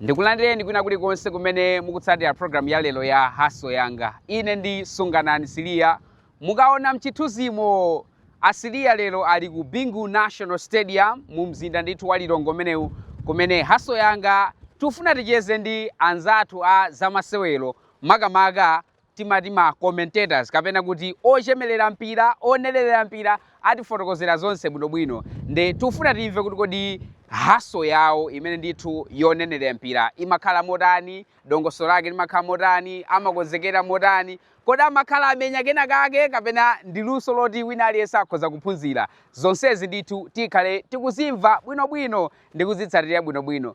ndikulandireni kwina kulikonse kumene mukutsatira programu ya lero ya haso yanga ine ndi sunganani siliya mukaona mchithunzimo asiliya lero ali ku bingu national stadium mu mzinda ndithu wa lilongwe umenewu kumene haso yanga tufuna ticheze ndi anzathu a zamasewero makamaka timati ma commentators kapena kuti ochemelera mpira onenelera mpira atifotokozera zonse bwinobwino nde tikufuna timve kuti kodi haso yawo imene ndithu yonenelera mpira imakhala motani dongosolo lake limakhala motani amakonzekera motani kodi amakhala amenya kena kake kapena ndi luso loti wina aliyense akhoza kuphunzira zonsezi ndithu tikhale tikuzimva bwinobwino ndi kuzitsatira bwinobwino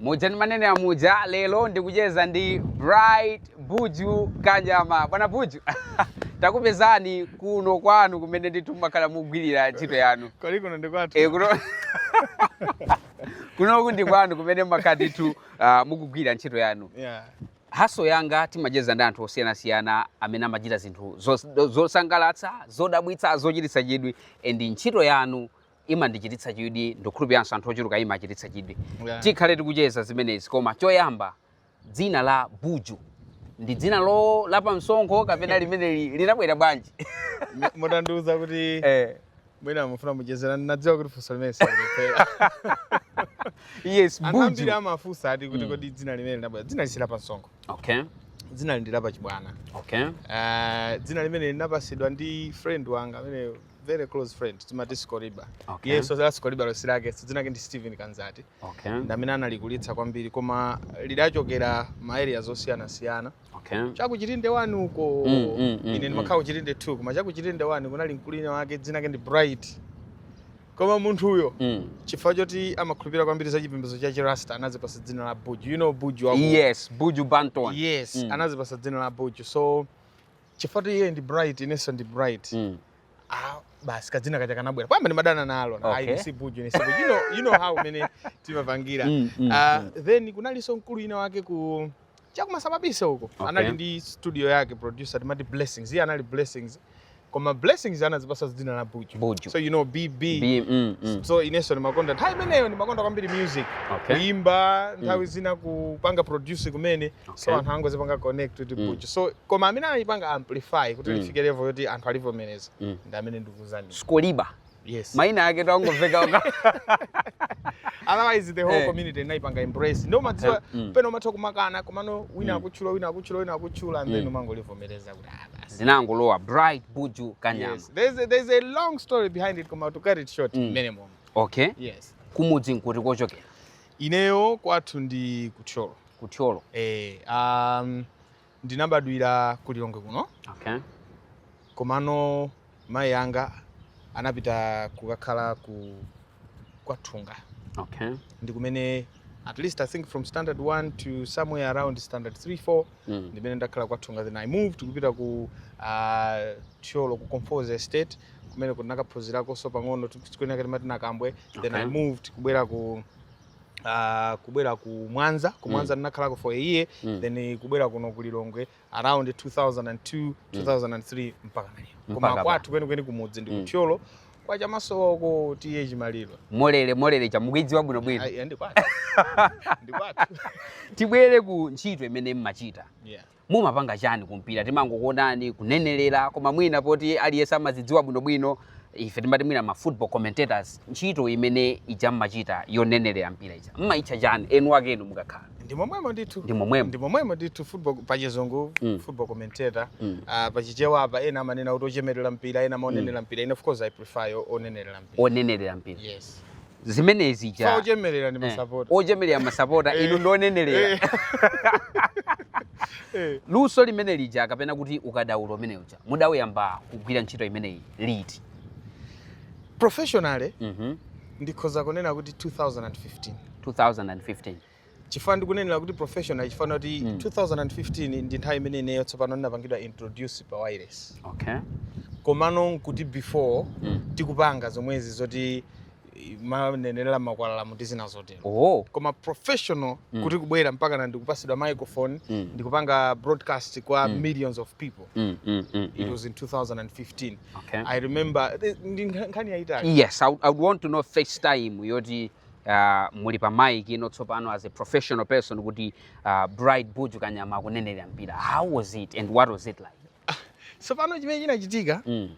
Muja ndimanenera muja, lero ndikucheza ndi Bright Buju Kanyama. Bwana Buju, takupezani kuno kwanu kumene ndithu mumakhala mukugwirira ntchito yanu. Kodi kuno ndi kwathu? Eh, kuno kunoku ndi kwanu kumene mumakhala ndithu ah, mukugwira ntchito yanu. Yeah. Haso yanga timacheza ndi anthu osiyanasiyana amene amachita zinthu zos- zosangalatsa, zodabwitsa, zochititsa chidwi and ntchito yanu imandichititsa chidwi ndikukhulupiriranso anthu ochuluka imawachititsa chidwi Yeah. tikhale tikucheza zimenezi koma choyamba dzina la buju ndi dzina lo lapa msonkho kapena limene li- linabwera bwanji M- mutandiuza kuti eh, mwina mufuna mucheze nane ndinadziwa kuti funso limene silipelewera yes anthu ambiri buju amafunsa ati kuti kodi dzina limene linabwera dzina ili si la pa msonkho okay dzina ili ndi lapa chibwana okay Eh, dzina limene linapasidwa ndi friend wanga amene very close friend timati Skoriba okay. yes so that's Skoriba losi lake so dzina lake ndi Steven Kanzati okay. ndamene analikulitsa kwambiri koma lidachokera ma area zosiyanasiyana okay. chakuchitinde 1 uko mm, mm, mm, ine mm. ndimakhala kuchitinde 2 koma chakuchitinde 1 kunali mkulu wina wake dzina lake ndi Bright koma munthu uyo mm. chifukwa choti amakhulupirira kwambiri za chipembedzo cha chirasta anazipasa dzina la buju you know buju yes buju banton yes mm. anazipasa dzina la buju so chifukwa choti iye ndi bright inenso ndi bright mm. ah, basi kadzina kaja kanabwera poyamba ndimadana nalo okay. ayi ine si buju ine si buju you know, you know how mene timapangira mm, mm, uh, mm. then kunalinso mkulu wina wake ku chakumasababisa uko okay. anali ndi studio yake producer timati blessings iye anali blessings koma blessings anazipasa dzina la buju. buju so you know bb B, mm, mm. so inenso ndimakonda nthawi imeneyo ndimakonda kwambiri music okay. kuimba nthawi mm. zina kupanga produce kumene so anthu angozipanga connect kuti Mm. buju so koma amene analipanga amplify kuti Mm. lifike level yoti anthu alivomereza Mm. ndi amene ndikukuuzani skoriba yes maina ake atangomveka uko otherwise the whole Eh. community inalipanga embrace nde umadziwa Okay. Mm. pena umatha kumakanakana komano wina Mm. akutchula wina akutchula wina akutchula and then Mm. umangolivomereza kuti ah basi zinangolowa bright buju kanyama yes there's a, there's a long story behind it koma to cut it short Mm. minimum okay yes kumudzi nkuti kochokera Ineyo kwathu ndi ku Thyolo. Ku Thyolo. Eh, um, ndinabadwira ku Lilongwe kuno. Okay. Komano mayi anga anapita kukakhala kwa Thunga. Okay. Ndi kumene at least I think from standard 1 to somewhere around standard 3 4 mm. ndimene ndakhala kwa Thunga then i moved kupita ku uh, thyolo ku Conforzi estate kumene ndinakaphunzirakonso pang'ono sukulu inayake timati nakambwe okay. then i moved kubwera ku Uh, kubwera ku mwanza ku mwanza mm. ndinakhalako for a year mm. then kubwera kuno ku lilongwe around 2002 2003 mm. mpaka now koma kwathu kwenikweni kumudzi ndi mm. kuthyolo mm. kwa chamasowa uko T/A Chimaliro molele molele ija mukuidziwa bwino bwino Ai, ndi kwathu ndi kwathu tibwere ku ntchito imene mmachita yeah mumapanga chani kumpira timangokuonani kunenelera koma mwina poti aliyense amazidziwa bwinobwino ife timati mwina ma football commentators ntchito imene ija mmachita yonenelera mpira ija mmaitcha chani eni akenu mukakhala ndi momwemo ndithu ndi momwemo ndi momwemo ndithu football pachizungu mm. football commentator mm. uh, ah, pachichewa apa ena amanena kuti ochemerera mpira ena amaonenera mm. mpira ine of course i prefer onenerera mpira onenerera mpira yes zimene zija ochemerera ndi eh, masapota ochemerera masapota inu eh. ndi onenerera eh. luso limene lija kapena kuti ukadaulo umene uja mudawuyamba kugwira ntchito imeneyi liti professionally mm -hmm. ndikhoza kunena kuti 2015 2015 chifukwa ndikunenera kuti professional chifukwa kuti mm. 2015 ndi nthawi imene ineyo tsopano ndinapangidwa introduce pa wireless okay. komano nkuti before mm. tikupanga zomwezi zoti eh, manenera mmakwalalamu ndi zina zotero oh. koma professional mm. kuti kubwera mpakana ndikupasidwa microphone mm. ndikupanga broadcast kwa mm. millions of people mm, mm, mm, it mm. was in 2015 okay. i remember eh, ndi nkhani yaitali yes I would, i would want to know first time yoti uh, muli pa mic ino tsopano as a professional person kuti uh, Bright Buju Kanyama akunenera mpira. How was it and what was it like? tsopano chimene chinachitika Mm.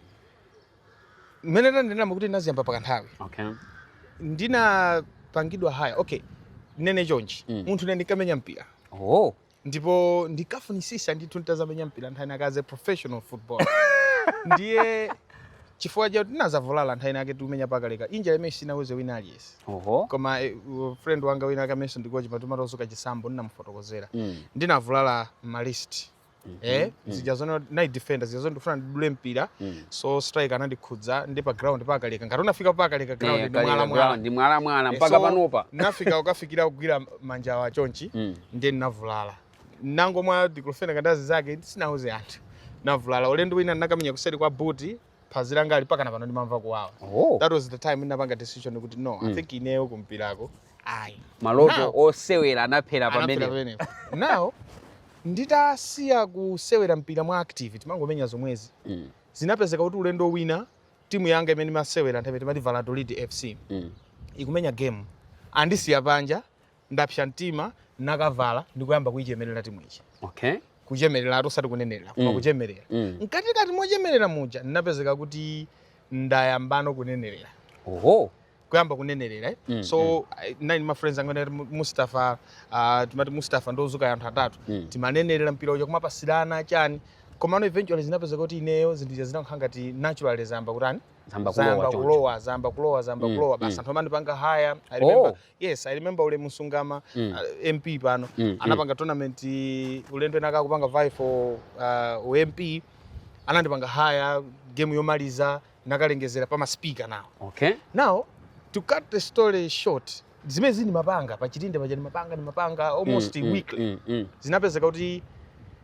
mmene ndanenamo kuti ndinaziyamba pa kanthawi Okay. ndinapangidwa hire okay ndinene chonchi Mm. munthu ine ndinkamenya mpira Oh. ndipo ndinkafunisisa ndithu nditazamenya mpira nthawi inayake as a professional football ndiye chifukwa choti ndinazavulala nthawi inayake tikumenya pakaleka injury imene sinauze wina aliyese oho koma eh, u- friend wanga winawake amenenso ndi kochi patumatozuka chisambo ndinamufotokozera Mm. ndinavulala ma wrist eh zijazo ndinali defender zijazo ndifuna ndidule mpira Mm. so striker anandikhudza ndi pa ground pakaleka ngati unafika pakaleka ground Eh, ndi kaleka mwala mwala ground, ndi mwalamwala Eh, mpaka so, panopa nafika ukafikira kugwira manjawa chonchi Mm. ndiye ndinavulala ndinangomwa diclofenac ndi azinzake sinauze anthu ndinavulala ulendo wina ndinakamenya kuseri kwa boot phazi langali mpakana pano ndimamva kuwawa Oh. that was the time ndinapanga decision kuti no i think ineyo kumpirako ayi maloto Now- osewera anathera pamene pamene now nditasiya kusewera mpira mwa active timangomenya zomwezi Mm. zinapezeka kuti ulendo wina timu yanga imene imasewera nthawiyo timati valladolid fc Mm. ikumenya game andisiya panja ndapsa mtima nakavala ndikuyamba kuichemerera timu ija okay kuchemerera ati osati kunenerera koma Mm. kuchemerera mm. mkatikati mochemerera muja ndinapezeka kuti ndayambano kunenerera oho kuyamba kunenerera eh? Mm, so I- nine ma friends angana ati Mu- mustafa uh, timati mustafa ndozuka anthu atatu Mm. timanenerera mpira uja kumapasirana chani komano eventually zinapezeka kuti ineyo zinthu zija zinakhala ngati naturally zayamba kutani zayamba zayamba kulowa choncho kulowa zayamba kulowa zayamba Mm, kulowa basi mm. anthu amandipanga hire i remember Oh. Yes, I remember ule Musungama mm. uh, MP pano mm, mm. anapanga mm. tournament ulendo wina wake kupanga vie for uh, u MP anandipanga hire game yomaliza nakalengezera pa speaker now. Okay. Now to cut the story short zimenezi ndimapanga pa chitinde paja ndimapanga ndimapanga almost mm, mm weekly mm, mm, mm. zinapezeka kuti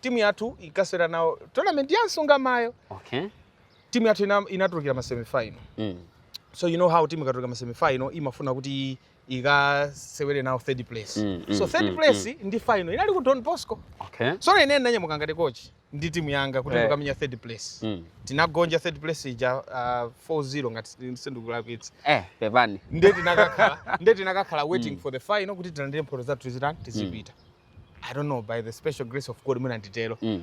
timu yathu inkasewera nawo tournament ya msungamayo okay. timu yathu ina- inatulukira ma semifinal mm. so you know how timu ikatuluka ma semifinal imafuna kuti ikasewere nawo third place Mm, mm, so third mm, place ndi final inali ku don bosco okay. so ine ndinanyamuka ngati coach ndi timu yanga kuti Eh. tikamenya third place mm. tinagonja third place ija uh, 4-0 ngati sindikulakwitsa eh, pepani nde tinakakhala nde tinakakhala waiting for the final kuti tilandire mphoto zathu tizitani tizipita i don't know by the special grace of god mwina nditero mm.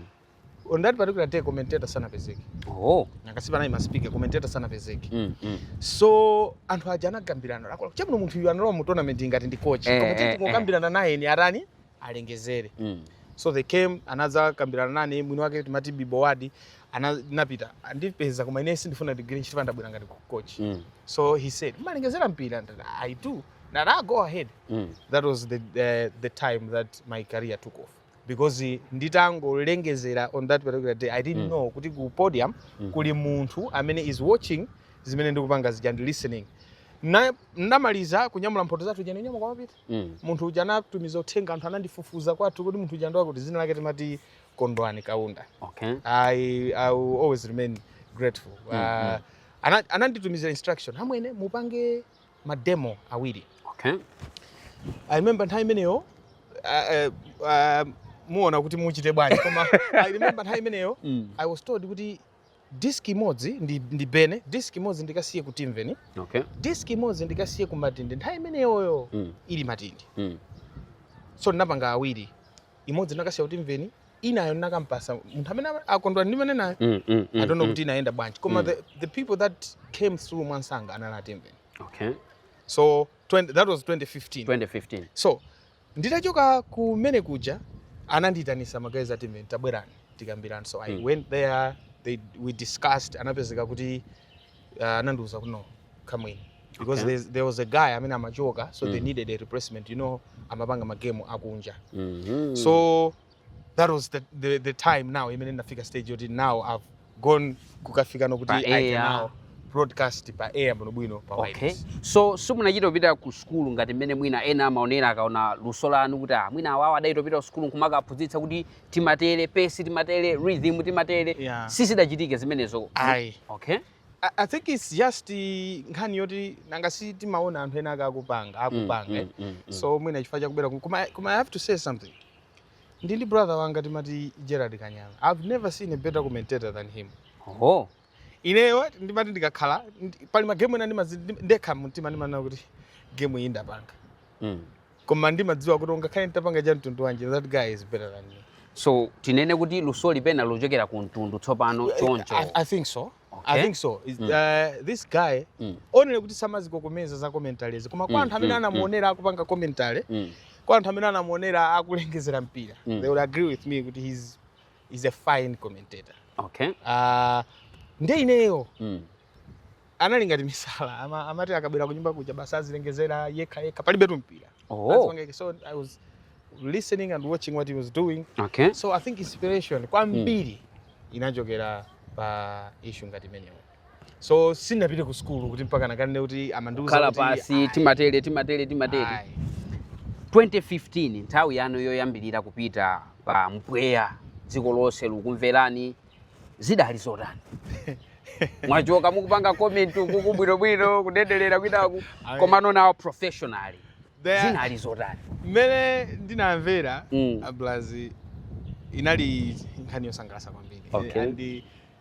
on that particular day commentator sanapezeke oh. angasipa naye masipika commentator sanapezeke mm, mm. so anthu aja anagambirana lakola chamuno munthu uyu analowa mu tournament ngati ndi coach eh, koma tete eh, kukambirana eh. naye ndiye atani alengezere mm. so they came anadzakambirana nane mwini wake timati bibowadi anapita kundipeza koma ine sindifuna ndigwire ntchito chifukwa ndabwera ngati coach mm. so he said mumalengezera mpira i do nara go ahead mm. that was the, uh, the time that my career took off because nditangolengezera on that particular day i didn't mm. know kuti ku podium mm. kuli munthu amene is watching zimene ndikupanga zija ndi listening ndamaliza kunyamula mphoto zathu zija ndinanyamuka kumapita mm. munthu uja anatumiza uthenga anthu anandifufuza kwathu kuti munthu uja ndi wakuti dzina lake timati kondwani kaunda okay. I, i will always remain grateful mm, uh, mm. ananditumizira instruction amwene mupange ma demo awiri. Okay. I remember nthawi imeneyo uh, uh, muona kuti muchite bwanji koma I remember nthawi imeneyo mm. I was told kuti disk imodzi ndi, ndibane disk imodzi ndikasiye ku timveni okay. disk imodzi ndikasiye ku matindi nthawi imeneyoyo mm. ili matindi mm. so ndinapanga awiri imodzi nakasiya ku timveni inayo nakampasa munthu amene ama- akondwera ndi mene nayo Mm, mm, mm, i don't know mm. kuti inayenda bwanji koma Mm. the, the people that came through mwansanga anali a timveni okay so 20, that was 2015 2015 so nditachoka kumene kuja anandiyitanisa magayezi a timveni tabwerani tikambirani so i Mm. went there they, we discussed anapezeka kuti uh, anandiuza kuti no come in because Okay. there's- there was a guy amene amachoka so they Mm. needed a replacement you know amapanga magemu akunja Mhm. so that was the, the, the time now imene ndinafika stage yoti now i've gone kukafika poti Pa i can air. now broadcast pa air bwinobwino pa okay wireless. so simunachita kupita ku sukulu ngati mmene mwina ena amaonera akaona luso lanu kuti ah, mwina awawa adachita kupita ku sukulu nkumakaphunzitsa kuti timatere pace timatere rhythm timatere yeah. sizidachitike zimenezo ayi okay I, I think it's just nkhani yoti nanga si timaona anthu ena ake akupanga mm, akupanga mm, eh? mm, mm, mm. so mwina chifukwa chakubera koma koma i have to say something ndili ndi brother wanga timati gerard kanyama i've never seen a better commentator than him oh ineyo ndimati ndikakhala ndi- pali magemu ena ndimazi- ndi- ndekha mumtima ndimanena kuti gemu iyi ndapanga Mm. koma ndimadziwa kuti ungakhale nditapanga cha mtundu wanji that guy is better than me so tinene kuti luso ili pena lochokera ku mtundu tsopano choncho I, I think so Okay. I think so Is- uh, this guy Mm. only kuti samazikokomeza za commentaries koma kwa Mm, anthu amene mm, anamuonera akupanga commentary Mm. kwa anthu amene anamuonera akulengezera mpira Mm. they would agree with me kuti he's he's a fine commentator okay uh, nde ineyo mm. anali ngati misala ama, amati akabwera kunyumba kuja basi azilengezera yekha yekha palibetu mpira oh. so i was listening and watching what he was doing okay. so i think inspiration kwambiri mm. inachokera pa issue ngati imeneyo so sindinapite ku sukulu kuti mpaka nakanene kuti amandiuza kuti khala pansi ayi, timatele timatele timatele ayi. 2015 nthawi yanu yoyambirira kupita pa mpweya dziko lonse likukumverani zidali zotani mwachoka mukupanga comment uku bwinobwino kudera kwinaku Ayi. komano now professionally There- zinali zotani mmene ndinamvera Mm. ablazi inali nkhani yosangalatsa kwambiri Okay. and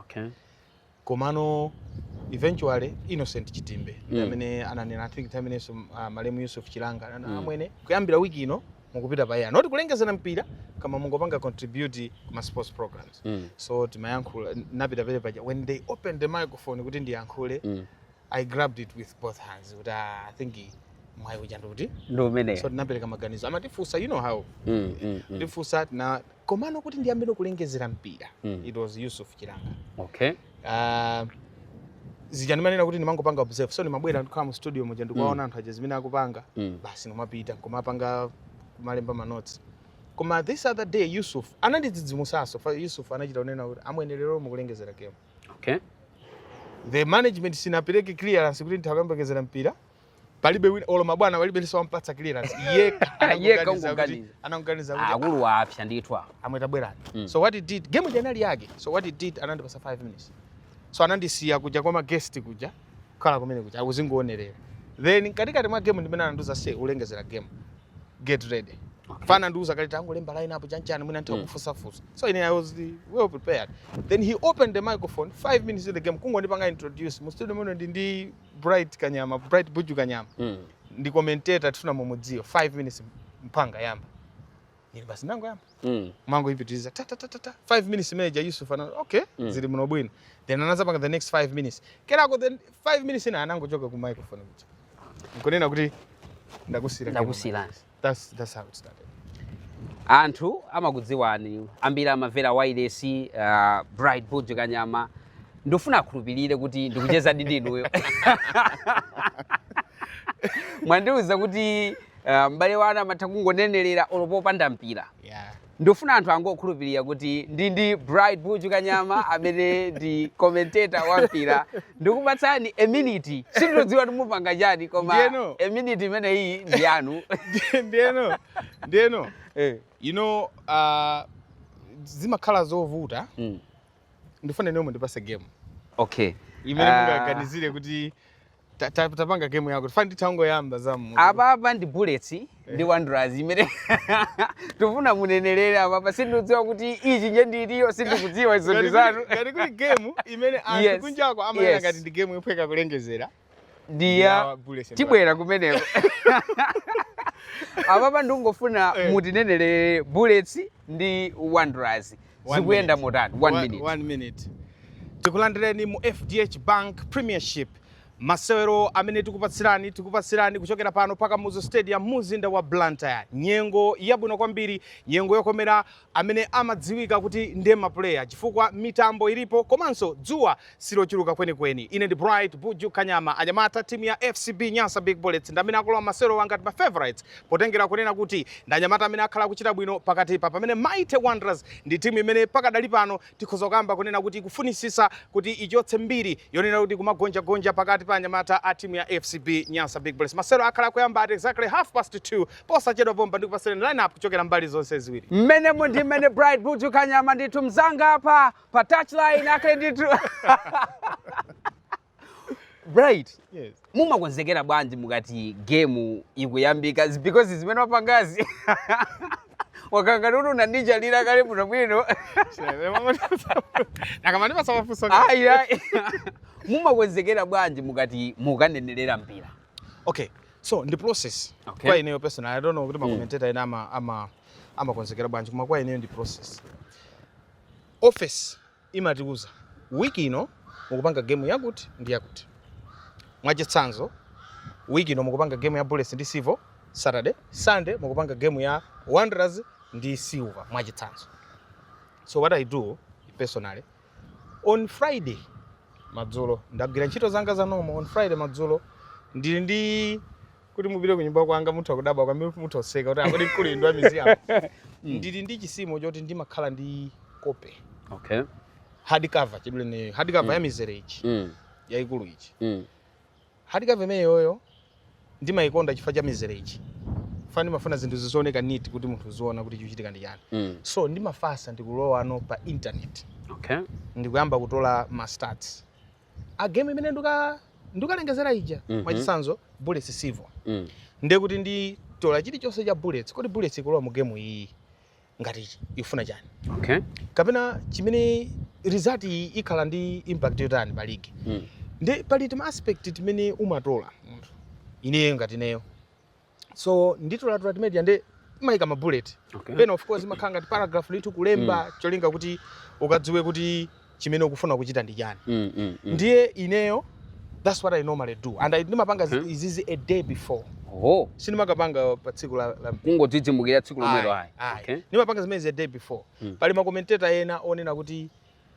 Okay. komano eventually innocent chitimbe ndi Mm. amene ananena i think time imeneyonso uh, malemu yusuf chilanga anana Mm. amwene kuyambira wiki ino mukupita pa air not kulengeza mpira koma mungopanga contribute kuma sports programs Mm. so timayankhula napita pa air paja when they open the microphone kuti ndiyankhule Mm. I grabbed it with both hands kuti ah, I think mwayi uja ndikuti ndi umene so tinapereka maganizo amatifunsa you know how Mm, mm, mm. tifunsa na komano kuti ndiyambire kulengezera mpira Mm. it was Yusuf Chilanga okay Ah, zija ndimanena kuti ndimangopanga observe so ndimabwera ndikhala mu studio muja ndikuwaona anthu aja zimene akupanga Mm. basi ndimapita kumapanga kumalemba manotsi koma this other day yusuf anandidzidzimusa so Yusuf anachita kunena kuti amwene lero mukulengezera game Okay. The management sinapereke clearance kuti ndikulengezera mpira palibe wina olo mabwana palibe aliyense wampatsa clearance yeka yeka ungoganiza anangoganiza kuti akulu ah, waapsa ndithu apo amwene tabwerani mm. so what he did game janali yake so what he did anandipasa 5 minutes so anandisiya kuja kwa ma guest kuja khala kumene kuja akuzingoonerera then katikati mwa game ndimene anandiuza ulengezera game get ready okay. sanandiuze kale tangolemba line up chanchani mwina nthawi mm. kufusa fusa so ine i was well prepared then he opened the microphone 5 minutes in the game kungondipanga introduce mu studio muno ndili ndi bright kanyama bright buju kanyama mm. ndi commentator tifuna mumudziwe 5 minutes mpamene anayamba ine basi ndangoyamba mm. ndimangopitiriza ta ta ta ta 5 minutes imene ja Yusuf ana okay mm. zili muno bwino then anadzapanga the next 5 minutes kenako then 5 minutes ina anangochoka ku microphone kuja nkunena kuti ndakusiira ndakusiira that's that's how it started anthu amakudziwani ambiri amavera wailesi uh, bright buju kanyama ndifuna akhulupirire kuti ndikucheza ndi inuyo mwandiuza kuti Ah, mpira wina mumatha kungonenerera olo popanda mpira yeah. ndifuna anthu angokhulupirira kuti ndi ndi bright buju kanyama amene ndi commentator wa mpira ndikupatsani a minute sindikudziwa kuti mupanga chani koma Ndiyeno. a minute imeneyi ndi yanu ndeno ndeno Eh, you know uh, zimakhala zovuta mm, ndifuna inuyo mundipase game okay imene Ah. mungaganizire kuti Ta- ta- tapanga game yako tifani tangoyamba za mmutu. apapa ndi bullets ndi wanderers imene tifuna munenelere apapa sindidziwa kuti ichinya ndi iti sindikudziwa izo Ngati ndi kuli- zanu ngati kuli game imene anthu Yes. kunjako amayesa Yes. ngati ndi game yophweka kulengezera ndiya ya Bullets and tibwera kumeneko apapa ndikungofuna Eh. mutinenelere bullets ndi wanderers One zikuyenda minute. motani one One- minute one minute. tikulandireni mu fdh bank premiership masewero amene tikupatsirani tikupatsirani kuchokera pano pa kamuzu stadium mu mzinda wa blantyre nyengo yabwino kwambiri nyengo yokomera amene amadziwika kuti ndi mapuleya chifukwa mitambo ilipo komanso dzuwa silochuluka kwenikweni. Ine ndi Bright Buju Kanyama, anyamata a timu ya FCB Nyasa Big Bullets ndi amene akulowa masewerowa ngati ma favourites potengera kunena kuti ndi anyamata amene akhala akuchita bwino pakatipa pamene Mighty Wanderers ndi timu imene pakadali pano tikhoza kukamba kunena kuti ikufunitsitsa kuti ichotse mbiri yonena kuti kumagonjagonja pakati pa anyamata a timu ya FCB Nyasa Big Bullets. Masewero akhala akuyamba at exactly half past 2 posachedwa pompa ndikupatsirani lineup kuchokera mbali zonse ziwiri. Mmenemu ndi mmene Bright Buju Kanyama ndithu mnzanga apa pa touchline akhale ndithu bright Yes. mumakonzekera bwanji mukati game ikuyambika It's because zimene wapangazi wakangati kuti unandichalira kale bwino bwino Akamani masawafuso. ayi ayi mumakonzekera bwanji mukati mukanenerera mpira Okay. So ndi process. Okay. Kwa ineyo personal I don't know kuti ma commentator ena ama ama amakonzekera bwanji koma kwa ineyo ndi process. Office imatiuza week ino mukupanga game yakuti ndi yakuti. Mwachitsanzo week ino mukupanga game ya Bullets ndi Civil, Saturday, Sunday mukupanga game ya Wanderers ndi Silver mwachitsanzo. So what I do personally, on Friday madzulo ndagwira ntchito zanga za normal, on Friday madzulo ndili ndi kuti mupite ku nyumba kwanga mutha kudabwa kwambiri kuti mutha kuseka kuti a kodi mkulu inu ndi wa museum ndili ndi chisimo choti ndimakhala ndi kope okay hard cover chidulene hard cover ya mizere ija mm. yaikulu ija Mm. hard cover imeneyoyo ndimayikonda chifukwa cha mizere ija fana ndimafuna zinthu zizioneka neat kuti munthu uziona kuti chikuchitika ndi chani Mm. so ndimafasa ndikulowano pa internet okay ndikuyamba kutola ma stats a game imene nduka ndukalengezera ija mm -hmm. mwachitsanzo bullets civil mm. ndiye kuti nditola chilichonse cha bullets kodi bullets ikulowa mu game iyi ngati ifuna chani okay. kapena chimene result iyi ikhala ndi impact yotani pa league mm. nde pali tima aspect timene umatola munthu ineyo ngati ineyo so nditolatola timene tija nde ndimayika ma bullet okay. pena of course imakhala ngati paragraph ndithu kulemba mm. cholinga kuti ukadziwe kuti chimene ukufuna kuchita ndi chani mm, mm, mm. ndiye ineyo that's what i normally do and i ndimapanga mm -hmm. izizi a day before oh. sindimakapanga pa tsiku la, la... kungodzidzimukira tsiku lomwelo ayi okay. ndimapanga zimenezi a day before mm. pali makomenteta ena onena kuti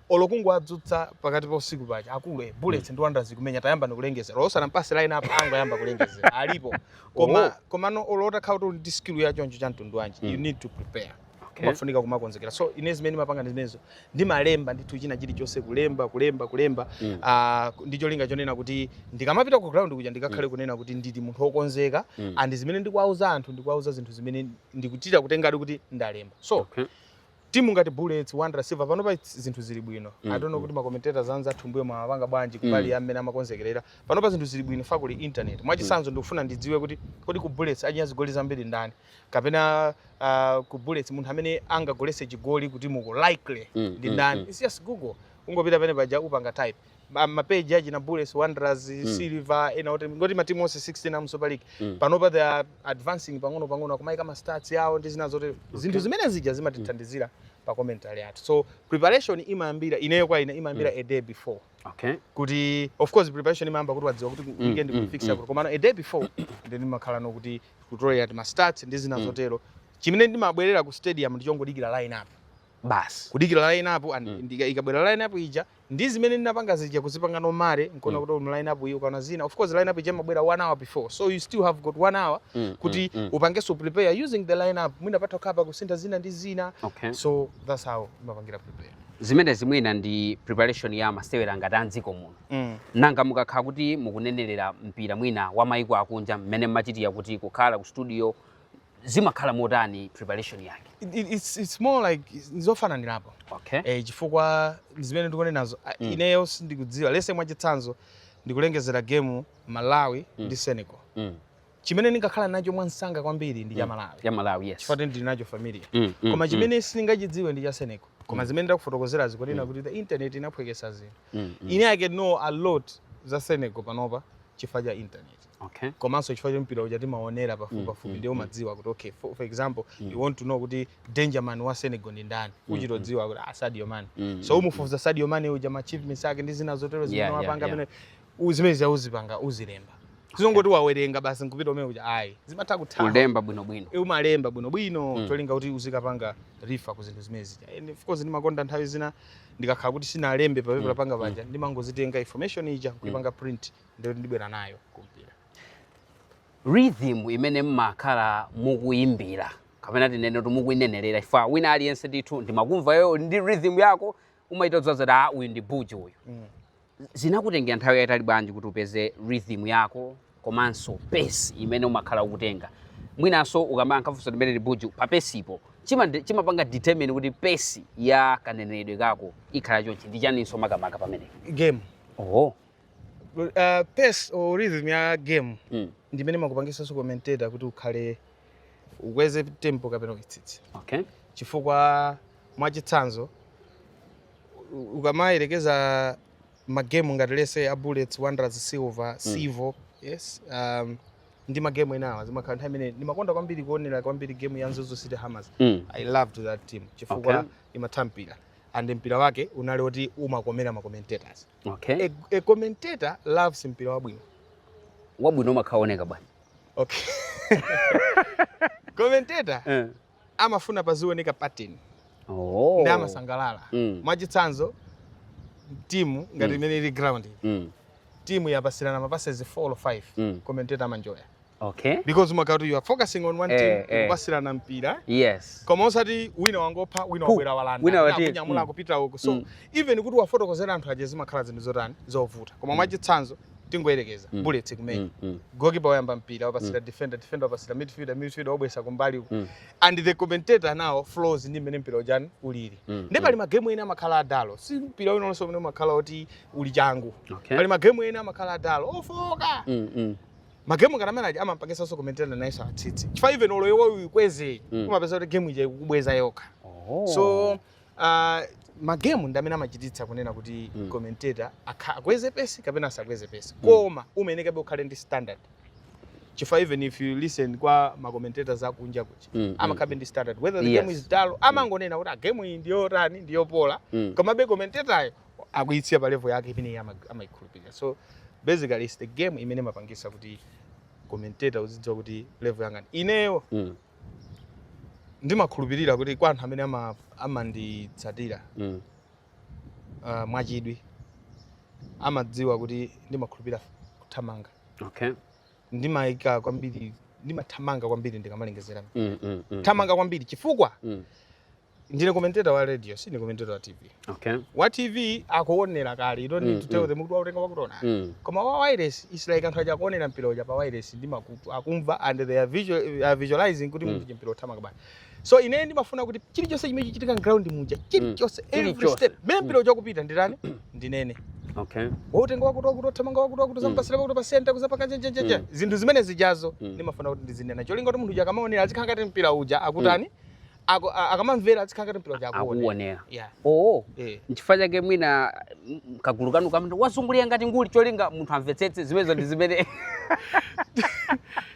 olo kungowadzutsa pakati pa usiku paja akulu eh, bullets ndi wanderers ikumenya tayambani kulengezera olo usanampatse line up angoyamba kulengezera alipo koma Oh. komano olo otakhala kuti uli ndi skill ya choncho cha mtundu wanji you need to prepare umafunika kumakonzekera so ine zimene ndimapanga ndi zimenezo ndimalemba ndithu china chilichonse kulemba kulemba kulemba Mm. ah, ndi cholinga chonena kuti ndikamapita ku ground kuja ndikakhale kunena kuti ndili munthu wokonzeka Mm. and zimene ndikuwauza anthu ndikuwauza zinthu zimene ndikuchita kutengadi kuti ndalemba so Okay. Timu ngati Bullets, Wanderers, Silver panopa zinthu zili bwino. Mm. I don't know kuti ma commentators anzathu m'mbuyomu amapanga bwanji kumbali mm. ya mmene amakonzekerera. Panopa zinthu zili bwino chifukwa kuli internet. Mwachitsanzo mm. ndikufuna ndidziwe kuti kodi ku Bullets achinya zigoli zambiri ndani? Kapena uh, ku Bullets munthu amene angagoletse chigoli kutimuko likely mm. ndi mm, ndani? Mm. It's just Google. Ungopita pene paja upanga type. ma- mapeji achina bullets wanderers silver ena oti nkuti matimu onse 16 amu super league Mm. panopa they are advancing pang'ono pang'ono akumaika ma stats yawo ndi zina zotero zinthu zimene zija zimatithandizira pa commentary yathu so preparation imayambira ineyo kwa ine imayambira a day before okay kuti of course preparation imayamba kuti wadziwa kuti Mm, weekend mm, kufixture mm. yako komano a day before then ndimakhala ndikutolera ma stats ndi zina Mm. zotero chimene ndimabwerera ku stadium ndichongodikira line up basi kudikira line up and Mm. ndika- ikabwera line up ija Ndi zimene ndinapanga zija kuzipanga no marry nkuona mm. kuti mu line up iyi ukaona zina of course line up ija imabwera 1 hour before so you still have got 1 hour mm, mm kuti mm, mm. upangenso prepare using the line up mwina patha kukhala pa kusintha zina ndi zina okay. so that's how timapangira prepare zimenezi mwina ndi preparation ya masewera ngati a mdziko muno mm. nanga mukakhala kuti mukunenerera mpira mwina wa maiko akunja mmene mmachitira kuti kukhala ku studio zimakhala motani preparation yake it, it, it's, it's more like zofananirapo okay. eh, chifukwa zimene ndikunenazo ah, mm. ineyo sindikudziwa let's say mwachitsanzo ndikulengezera game malawi mm. ndi senegal mm. chimene ndingakhala nacho mwamsanga kwambiri ndi cha mm. malawi ya malawi yes chifukwa ndili nacho familiar mm, mm, koma mm. chimene mm. sindingachidziwe ndi cha senegal koma mm. zimene ndakufotokozera zija kunena mm. kuti the internet inaphweketsa zinthu mm, mm. ine i can know a lot za senegal panopa chifukwa cha internet Okay. komanso chifukwa choti mpira uja timaonera pafupi pafupi ndiye umadziwa kuti okay for, for example you want to know kuti danger man wa senegal ndi ndani umachita kudziwa kuti ah sadio mane so umufufuza sadio mane uja ma achievements ake ndi zina zotero zimene Yeah, yeah, wapanga yeah. amene u- zimene zija uzipanga uzilemba sizongoti wawerenga basi nkupita kumene kuja ayi zimatha kuthawa ulemba bwinobwino E, umalemba bwinobwino cholinga kuti uzikapanga refer ku zinthu zimene zija and of course ndimakonda nthawi zina ndikakhala kuti sindinalembe papepala panga paja ndimangozitenga information ija kuipanga print ndiye ndibwera nayo kumpira rhythm imene mmakhala mukuyimbira kapena tinene kuti mukuyinenerera chifukwa wina aliyense ndithu ndimakumva iweyo uli ndi rhythm yako umachita kudziwa zoti ah uyu ndi buju uyu mm. zinakutengera nthawi yayitali bwanji kuti upeze rhythm yako komanso pace imene umakhala ukutenga mwinanso ukamayankha funso limeneli buju pa pace-po chima- chimapanga determine kuti pace ya kaneneredwe kako ikhala chonchi ndi chaninso makamaka pamenepo game oho uh, pace or rhythm ya game mm. ndimene makupangisa nso commentator kuti ukhale ukweze tempo kapena kuitsitsa okay. chifukwa mwachitsanzo ukamayerekeza magemu ngati lese a bullets wanderers silver mm. civo yes um, ndi magemu enaake zimakhala nthawi imene ndimakonda kwambiri kuonera kwambiri game ya mzuzu city hammers mm. i loved that team chifukwa okay. imatha mpira and mpira wake unali oti umakomera macommentators Okay. A, a commentator loves mpira wabwino. Wabwino umakhala ukuoneka bwanji. Okay. commentator eh. amafuna pazioneka pattern. Oh. Ndi amasangalala. Mm. Mwachitsanzo timu ngati mm. mmene ili ground. Mm. Timu yapasirana mapasses 4 or 5. Mm. Commentator amanjoya. okay because umakhala kuti you are focusing on one eh, team eh. kupasirana mpira yes koma osati wina wangopha wina wabwera walanda wina wati kunyamula mm. kupita uko so mm. even kuti uwafotokozere anthu aja zimakhala zinthu zotani zovuta koma mm. mwachitsanzo tingoyerekeza mm. bullets kumene mm. mm. goalkeeper wayamba mpira wapasira mm. defender defender wapasira midfielder midfielder wabweza kumbali uko mm. and the commentator now flows ndi mmene mpira ujani ulili mm. ndi pali mm. magemu ena amakhala a dull si mpira wina uliwonse umene umakhala kuti uli changu okay. pali magemu ena amakhala a dull ofooka mm. mm. ma game ngati amene aja amampangitsanso commentator nayenso atsitse chifukwa even olo iwe uikweze Mm. umapeza kuti game ija ikukubweza yokha Oh. so uh, magemu ndi amene amachititsa kunena kuti Mm. commentator akha- akweze pesi kapena asakweze pesi Mm. koma umayenekabe ukhale ndi standard chifukwa even if you listen kwa macommentator akunja kuja Mm, mm, amakhalabe ndi standard whether the Yes. game is dull amangonena kuti gemu iyi ndiyotani ndiyopola mm. komabe commentatoryo akuisiya pa level yake imene iye ama- amaikhulupirira so basically it's the game imene imapangitsa kuti commentator uzidziwa kuti level yanga ndi- ineyo Mm. ndimakhulupirira kuti kwa anthu amene ama- amanditsatira Mm. uh, mwachidwi amadziwa kuti ndimakhulupirira kuthamanga Okay. ndimayika kwambiri ndimathamanga kwambiri ndikamalengezera Mm, mm, mm. thamanga kwambiri chifukwa Mm. ndine commentator wa radio sine commentator wa tv okay. wa tv akuonera kale you don't need mm, to tell mm. them kuti wautenga wakuti mm. koma wa wireless is like anthu aja akuonera mpira uja pa wireless ndi makutu akumva and they are, visual, are visualizing kuti mm. munthu mpira ukuthamanga bwanji so ine ndimafuna kuti chilichonse chimene chikuchitika ground muja mm. chilichonse mm. every step mmene mpira mm. uja ukupita nditani ndinene okay. wautenga wakuti wakuti wathamanga wakuti wakuti wampasira mm. wakuti pasenta kuzapanga jejejeje mm. zinthu zimene zijazo mm. ndimafuna kuti ndizinena cholinga kuti munthu uja akamaonera azikhala ngati mpira uja akutani mm Aka- a- akamamvera azikhala ngati mpira uja akuona akuonera Yeah. oo Eh. nchifukwa chake mwina mm, kagulu kanu kamati wazungulira ngati nguli cholinga munthu amvetsetse zimenezo ndi zimene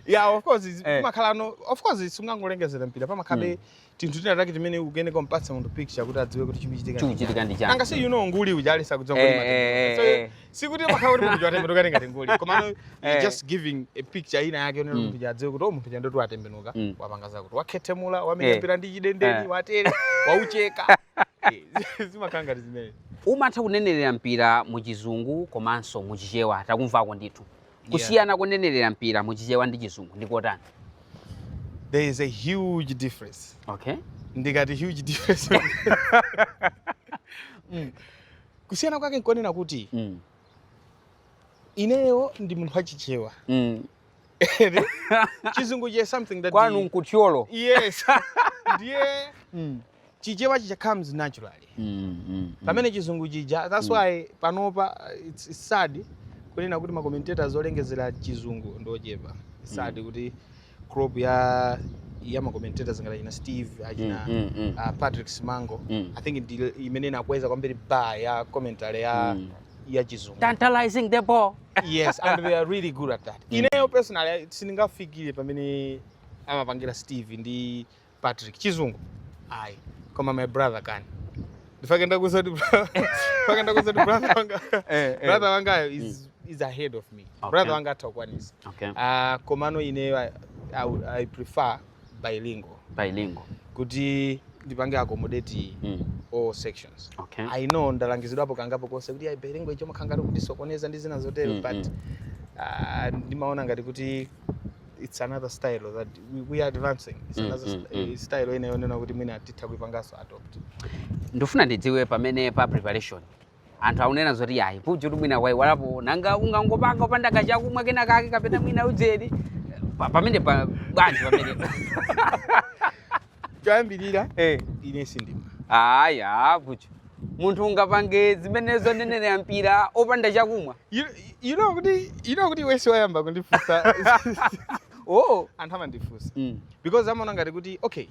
yeah of course zi- Eh. pamakhala no of course sungangolengezera mpira pamakhalabe tinthu tina take timene ukuyenera kumpatsa munthu picture kuti adziwe kuti chikuchitika ndi chikuchitika ndi chani. anga si you know nguli uja alisa kudzongo Eh, eh, eh, eh. sikuti umakhala kuti munthu uja atembenuka ngati nguli koma no, Eh. you're just giving a picture ina yake yonena Mm. munthu adziwe kuti o munthu chando tu atembenuka Mm. wapanga zakuti wakhethemula Eh. wamenya mpira ndi chidendeni Eh. watero waucheka Eh, zimakhala ngati zimene umatha kunenerera mpira mu chizungu komanso mu chichewa takumvako ndithu kusiyana kunenerera mpira mu chichewa ndi chizungu ndikotani there is a huge difference okay ndikati huge difference kusiyana kwake nkonena kuti mm. ineyo ndi munthu wachichewa mm. chizungu is something that kwanu nku Thyolo yes ndiye mm. chichewa chija comes naturally mm, mm, mm. pamene chizungu chija that's mm. why panopa it's, it's sad kunena kuti ma commentators olengezera chizungu ndi ochepa sad mm. kuti crop ya ya ma commentators ngati achina Steve achina mm, mm, mm. Uh, Patrick Simango mm. I think ndi imene inakweza kwambiri bar ya commentary ya mm. ya chizungu tantalizing the ball yes and they are really good at that mm. ineyo personally sindingafikire pamene amapangira Steve ndi Patrick chizungu ayi koma my brother can ndipake ndakuuza kuti ndipake ndakuuza kuti brother wanga eh, eh. brother wangayo is mm. is ahead of me okay. brother wanga atha kukwanitsa okay. uh, komano ineyo I, I, I prefer bilingual bilingual kuti ndipange accommodate mm. all sections okay. i know ndalangizidwapo kangapo konse kuti bilingual ijayo imakhala ngati ikutisokoneza ndi zina zotero mm, but mm. Uh, ndimaona ngati kuti it's another style that we, we are advancing it's mm, another mm, mm. style ina yonena kuti mwina titha kuipanganso adopt ndikufuna ndidziwe pamene pa preparation anthu akunena zoti yayi Puchutu mwina waiwalapo nanga ungangopanga opanda kachakumwa kena kake kapena mwina ndzeru pamene pa bwanji pamene choyambirira hey. Eh. ine sindimwa aya Puchu munthu ungapange zimenezo kunenerera mpira opanda chakumwa You, you know kuti you know kuti wasn't wayamba kundifunsa oh anthu amandifunsa mm. because amaona ngati kuti okay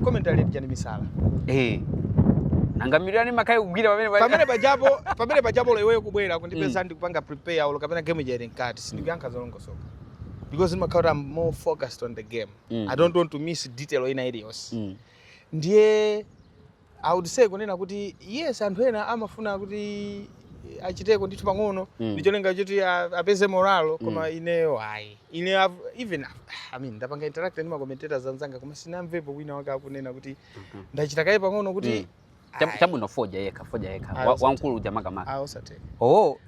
commentary ndi chani misala eh nanga mudziwa ndimakhala ndikugwira pamene pamene pajapo pamene pajapo olo iweyo kubwera kundipeza mm. ndikupanga prepare olo kapena game ija ili mkati sindikuyankha zolongosoka because ndimakhala kuti I'm more focused on the game mm. I don't want to miss detail ina iliyonse mm. ndiye I would say kunena kuti yes anthu ena amafuna kuti achiteko ndithu pang'ono mm. ndicholinga choti apeze morale koma mm. ineyo ayi ine I've, even I mean ndapanga interact ndi ma commentators anzanga koma sindinamvepo wina wake akunena kuti mm -hmm. ndachita kaye pang'ono kuti mm. Chabwino fodya yekha fodya yekha wamkulu uja makamaka. Ah, osatheka. Oh.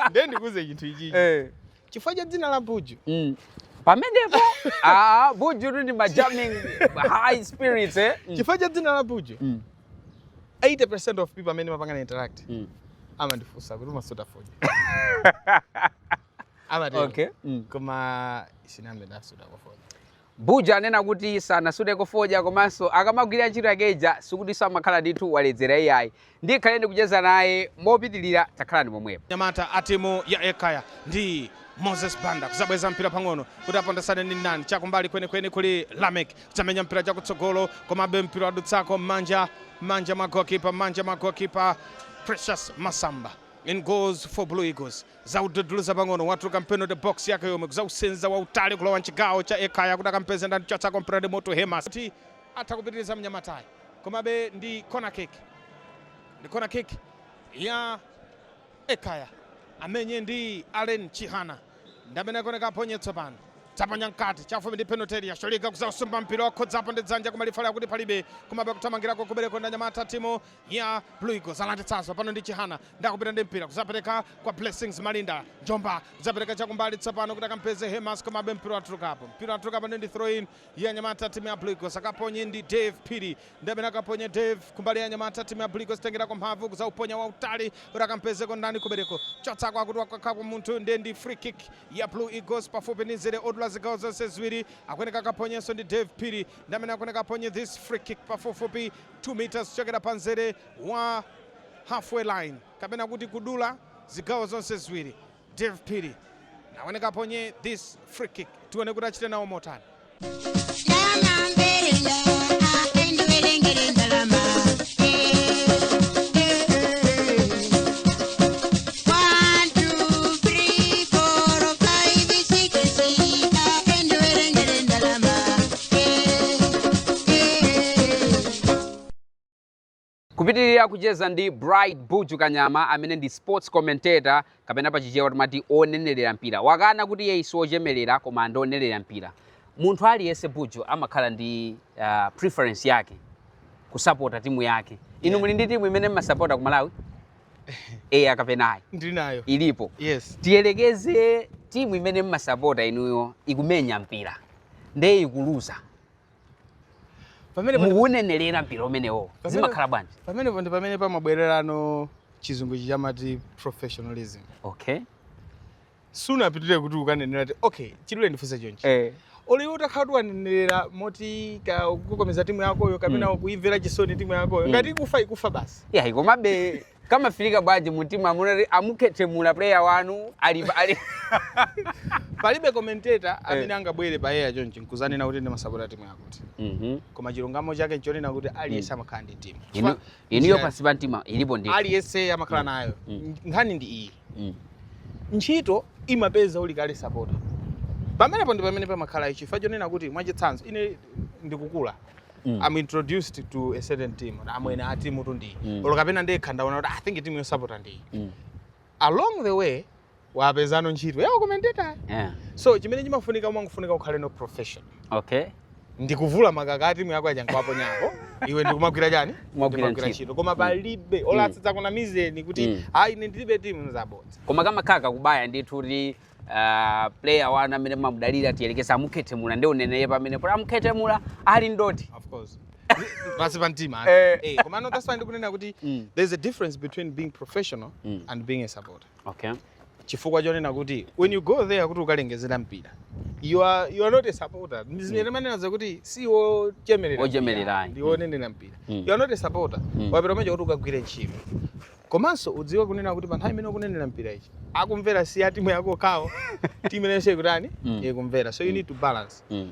Ndiye ndikuuze chinthu ichi. Eh. chifukwa cha dzina la buju mm. pamenepo ah, buju tu ndi majamming high spirits eh? mm. chifukwa cha dzina la buju mm. 80% of people amene mapanga interact mm. amandifunsa kuti umasuta fodya amatero okay. mm. koma sinambe ndasutako fodya Buju anena kuti sanasuteko fodya komanso akamagwira ntchito yake ija sikutinso amakhala ndithu waledzera iyayi. Ndikhale ndikucheza naye mopitilira takhalani pomwepo. Anyamata a timu ya Ekhaya ndi Moses Banda kuzabweza mpira pang'ono kuti apondesane ndi ndani chakumbali kwenikweni kuli Lameck kuzamenya mpira chakutsogolo komabe mpira wadutsako mmanja mmanja mwa goalkeeper mmanja mwa goalkeeper Precious Masamba in goals for Blue Eagles. Kuzaududuluza pang'ono watuluka mpenalty box yake yomwe kuzausenza wautali kulowa mchigawo cha Ekhaya kuti akampeze ndani kuchotsako mpiradi Moto Hema kuti atakupitiriza mnyamatayi komabe ndi corner kick ndi corner kick ya Ekhaya amenye ndi Allen Chihana ndi amene akuoneka aponye tsopano dzaponya mkati chafupi ndi penalty ya Sholiga kuzausumbira mpira wakhudzapo ndi dzanja koma lifali akuti palibe komabe kuthamangirako kubereko ndi anyamata timu ya Blue Eagles alanditsanso pano ndi Chihana ndikupita ndi mpira kuzapereka kwa Blessings Malinda Njomba kuzapereka chakumbali tsopano kuti akampeze Hemas komabe mpira watulukapo mpira watulukapo ndi throw in ya anyamata timu ya Blue Eagles akaponye ndi Dave Phiri ndi amene akaponye Dave kumbali ya anyamata timu ya Blue Eagles tengera kwa mphamvu kuzauponya wautali kuti akampezeko ndani kubereko chotsako akuti wakankhako munthu ndi ndi free kick ya Blue Eagles pafupi ndi nzere odula zigawo zonse ziwiri akuyeneka akaponyenso ndi Dave Phiri ndi amene akuyeneka aponye this free kick pafupifupi 2 metres kuchokera pa nzere wa halfway line kapena kuti kudula zigawo zonse ziwiri dave phiri akuwoneka aponye this free kick tione kuti achite nawo motani kupitiriza kucheza ndi bright buju kanyama amene ndi sports commentator kapena pachichewa timati wonenerera mpira wakana kuti iye si wochemerera koma ndi wonenerera mpira munthu aliyense buju amakhala ndi uh, preference yake kusapota timu yake inu Yeah. muli ndi timu imene mmasapota ku malawi eya kapena ayi ndili nayo ilipo yes tiyerekeze timu imene mmasapota inuyo ikumenya mpira nde ikuluza pamene pamene- mukuwunenerera mpira umenewo zimakhala bwanji pamene ndi pamene pamabwererano chizungu ichi chamati professionalism okay sunapitire kuti ukanenera ti okay chidule ndifunse chonchi eh. olo iwe utakhala kuti wanenerera moti ka ukukokomeza timu yakoyo kapena Mm. ukuyimvera chisoni timu yakoyo Mm. ngati ikufa ikufa basi yayi komabe kamafika bwanji mumtima amati amukhethemula player wanu ali ali palibe commentator amene angabwere pa air chonchi nkuzanena kuti ndimasapota timu yakuti Mhm. koma chilungamo chake nchonena kuti aliyense amakhala ndi timu Inu- inuyo pansi pa mtima ilipo ndi aliyense amakhala nayo Mm. nkhani ndi iyi Mm. ntchito imakupeza uli kale sapota pamenepo ndi pamene pamakhala ichi chifukwa chonena kuti mwachitsanzo ine ndikukula Mm. I'm introduced to a certain team amwene a timutu ndi iyi Mm. olo kapena ndekha ndaona kuti i think timu yosapota ndi iyi Mm. along the way wapezano ntchito ya ukomenteta Yeah. so chimene chimafunika umangofunika ukhaleno professional Okay. nkuvula makaka a timu yako yaja nkuwaponyako iwe ndikumagwira chani Kumagwira Ndikumagwira ntchito. ntchito koma palibe olo asazakunamizeni kuti Mm. ayi ine ndilibe timu nzabodza koma kamakhala kakubaya ndithu kuti ah, player wanu amene mumamudalira tiyerekeze amukhethemula ndi uneneye pamene kuti amukhethemula ali ndoti of course pansi pa mtima Eh. eh komano that's why ndikunena kuti Mm. there's a difference between being professional Mm. and being a supporter okay chifukwa chonena kuti when you go there kuti ukalengezere mpira you are, you are not a supporter ndizimene timanena kuti si wochemerera Wochemerera, mpira, ayi. ndi wonenera mpira Mm. you are not a supporter Mm. wapita kumene kuja kuti ukagwire ntchito komanso udziwe kunena kuti pa nthawi imene ukunenera mpira ichi akumvera si ya timu yako yokha timu inanso ikutani Mm. ikumvera so you need to balance Mm.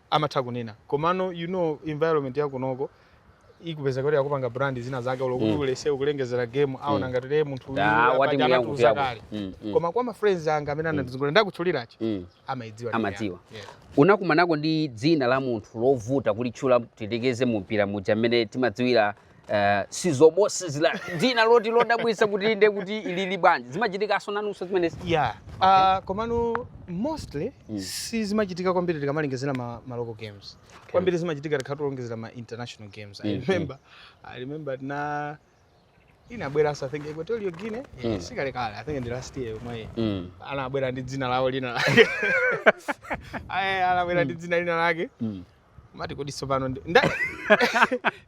amatha kunena komano you know environment ya kunoko ukupeza kuti akupanga brand zinazake olo kuti Mm. ulese ukulengezera game aona Mm. ngati ee munthu uyu Ah, apa wati ndi mbuya anatiuza nkupyako. kale. Mm, mm. koma kwa ma friends anga amene anandizungulira ndakutchulirazi Mm. amaidziwa Amadziwa. Yeah. unakumanako ndi dzina la munthu lovuta kulitchula tiyerekeze mu mpira muja mmene timadziwira Eh, sizobo sizila dzina loti lodabwitsa kuti inde kuti ilili bwanji zimachitikanso nanunso zimenezi yeah okay. uh, komano mostly mm. sizimachitika kwambiri tikamalengezera ma, ma local games okay. kwambiri zimachitika tikamalengezera ma international games mm -hmm. i mm-hmm. remember i remember na inabweranso i think equatorial guinea mm. yeah, sikalekale i think ndi last year yomwe mm. anabwera ndi dzina lawo lina lake anabwera ndi mm. dzina lina lake mm. umati kodi tsopano ndi- nda-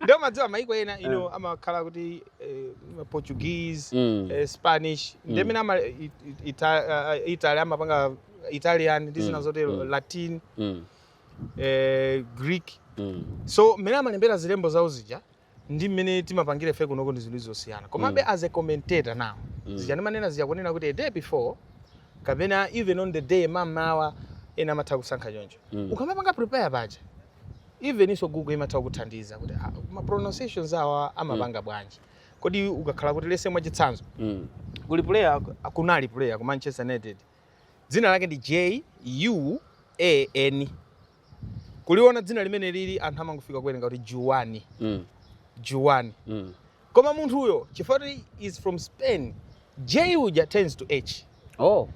ndiye umadziwa maiko ena ino amakhala kuti eh, portuguese Mm. eh, spanish Mm. nde mmene ama i- i- Ita- eh, italy amapanga italian ndi zina Mm, zotero mm. latin Mm. eh, greek Mm. so mmene amalembera zilembo zawo zija ndi mmene timapangira ife kunoko ndi zinthu zosiyana komabe mm. as a commentator now mm. zija ndimanena zija kunena kuti a day before kapena even on the day mamawa ena amatha kusankha choncho mm. ukamapanga prepare paja even iso google imatha kuthandiza kuti ah, ma pronunciations awa amapanga mm. bwanji kodi ukakhala kuti let's say mwachitsanzo mm. kuli player kunali player ku manchester united dzina lake ndi j u a n kuliona dzinali mmene lili anthu amangofika kuwerenga kuti juwani mm. juwani mm. koma munthuyo chifukwa kuti is from spain j uja turns to h oh.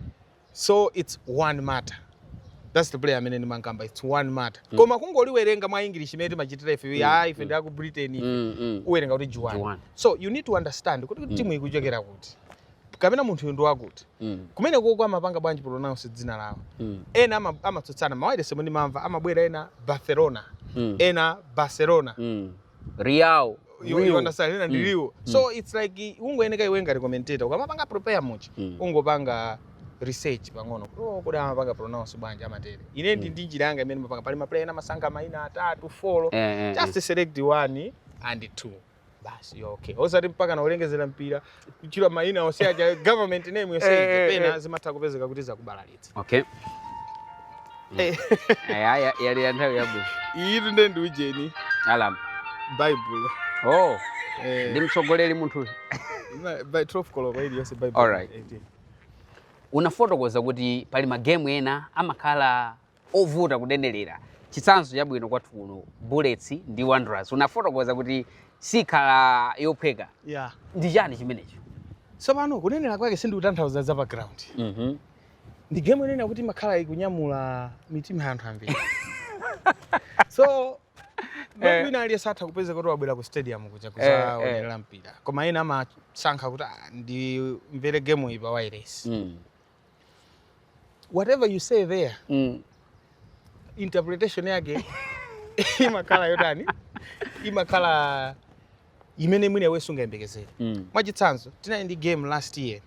so it's juan mata that's the player amene ndimankamba it's juan mata mm. koma kungoliwerenga mwa english mmene timachitira ife mm. ah ife mm. ndi aku britain mm, mm. uwerenga kuti juwani so you need to understand kuti mm. timu ikuchokera kuti kapena munthuyu ndi wakuti mm. kumenekoko amapanga bwanji pronounce dzina lawo mm. ena amatsutsana m'mawayilesimu ndimamva amabwera ena barcelona mm. ena barcelona mm. real you understand ena ndi rio mm. mm. so it's like ungoyeneka iwe ngati commentator ukamapanga prepare match mm. ungopanga research pang'ono oh, kodi amapanga pronounce bwanji amatere ine ndi mm. ndi njira yanga imene mmapanga pali maplayer ena amasankha maina atatu folo eh, eh, just eh. select one and two basi okay osati mpakana kulengezera mpira kutchula maina onse aja government name yonse Eh, eh, ija pena eh. zimatha kupezeka kuti zakubalalitsa okay Eh. Eh, aya yali ya nthawi yabwino iyitu nde ndi ujeni alarm baibulo oh Eh, ndi mtsogoleri munthuyu ima- by 12 koloko iliyonse baibulo Alright. unafotokoza kuti pali magemu ena amakhala ovuta kunenerera chitsanzo chabwino kwathu kuno bullets ndi wanderers unafotokoza kuti sikhala yophweka yeah. ndi chani chimenecho tsopano kunenera kwake sindikutanthauza za pa ground mm -hmm. ndi game yonena kuti imakhala ikunyamula mitima ya anthu ambiri so Eh. wina aliyense atha kupezeka kuti wabwera ku stadium kuja kuzaonerera eh, eh. mpira koma ena amasankha kuti ah, ndimvere game iyi pa wireless mm. whatever you say there mm. interpretation yake imakhala yotani imakhala imene mwina iwe sungayembekezere mm. mwachitsanzo tinali ndi game last year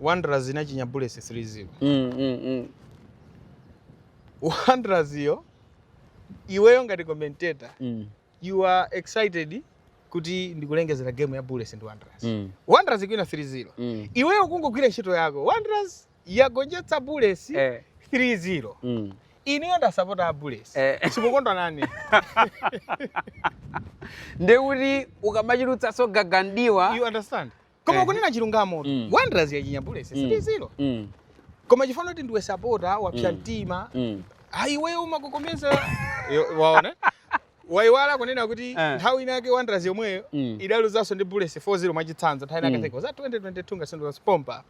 wanderers inachinya bullets 3-0 mm, mm, mm. wanderers iyo iweyo ngati commentator mm. You are excited kuti ndikulengezera game ya Bullets ndi Wanderers. Mm. Wanderers ikuwina 3-0. Mm. Iweyo ukungogwira ntchito yako. Wanderers yagonjetsa Bullets eh. 3-0. Mm. Ineyo ndasapota a Bullets. Eh. Sikukondwa nani? Ndekuti ukamachulutsanso gaga m'diwa. You understand? koma Eh. kunena chilungamo Mm. wanderers yachinya bullets Mm. 3-0 Mm. koma chifano kuti ndiwe sapota wapsya Mm. mtima Mm. iweyo umakokomeza Yo- waona waiwala kunena kuti Eh. nthawi inake wanderers yomweyo Mm. idaluzanso ndi bullets 4-0 mwachitsanzo nthawi inake Mm. za 2022 ngasendo zaspompa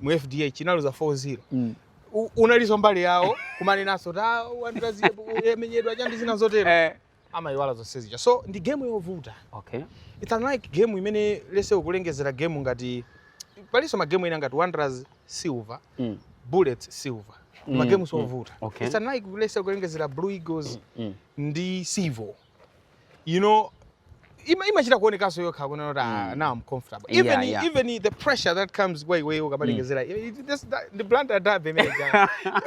mu fdh inaluza 4-0 Mm. U- unaliso mbali yawo kumanenanso ta wanderers yamenyedwa chandi zina zotero Eh. amayiwala zonse zija so ndi game yovuta okay. it's unlike game imene let's say ukulengezera game ngati palinso magame ena ngati wanderers silver mm. bullets silver mm. ndi magame ovuta mm. okay. it's unlike let's say ukulengezera blue eagles mm. mm. ndi civil you know ima imachita kuonekanso yokha kunena kuti ah, mm. now I'm comfortable even yeah, yeah. even the pressure that comes kwa iwe ukabalengezera mm. the Blantyre derby imene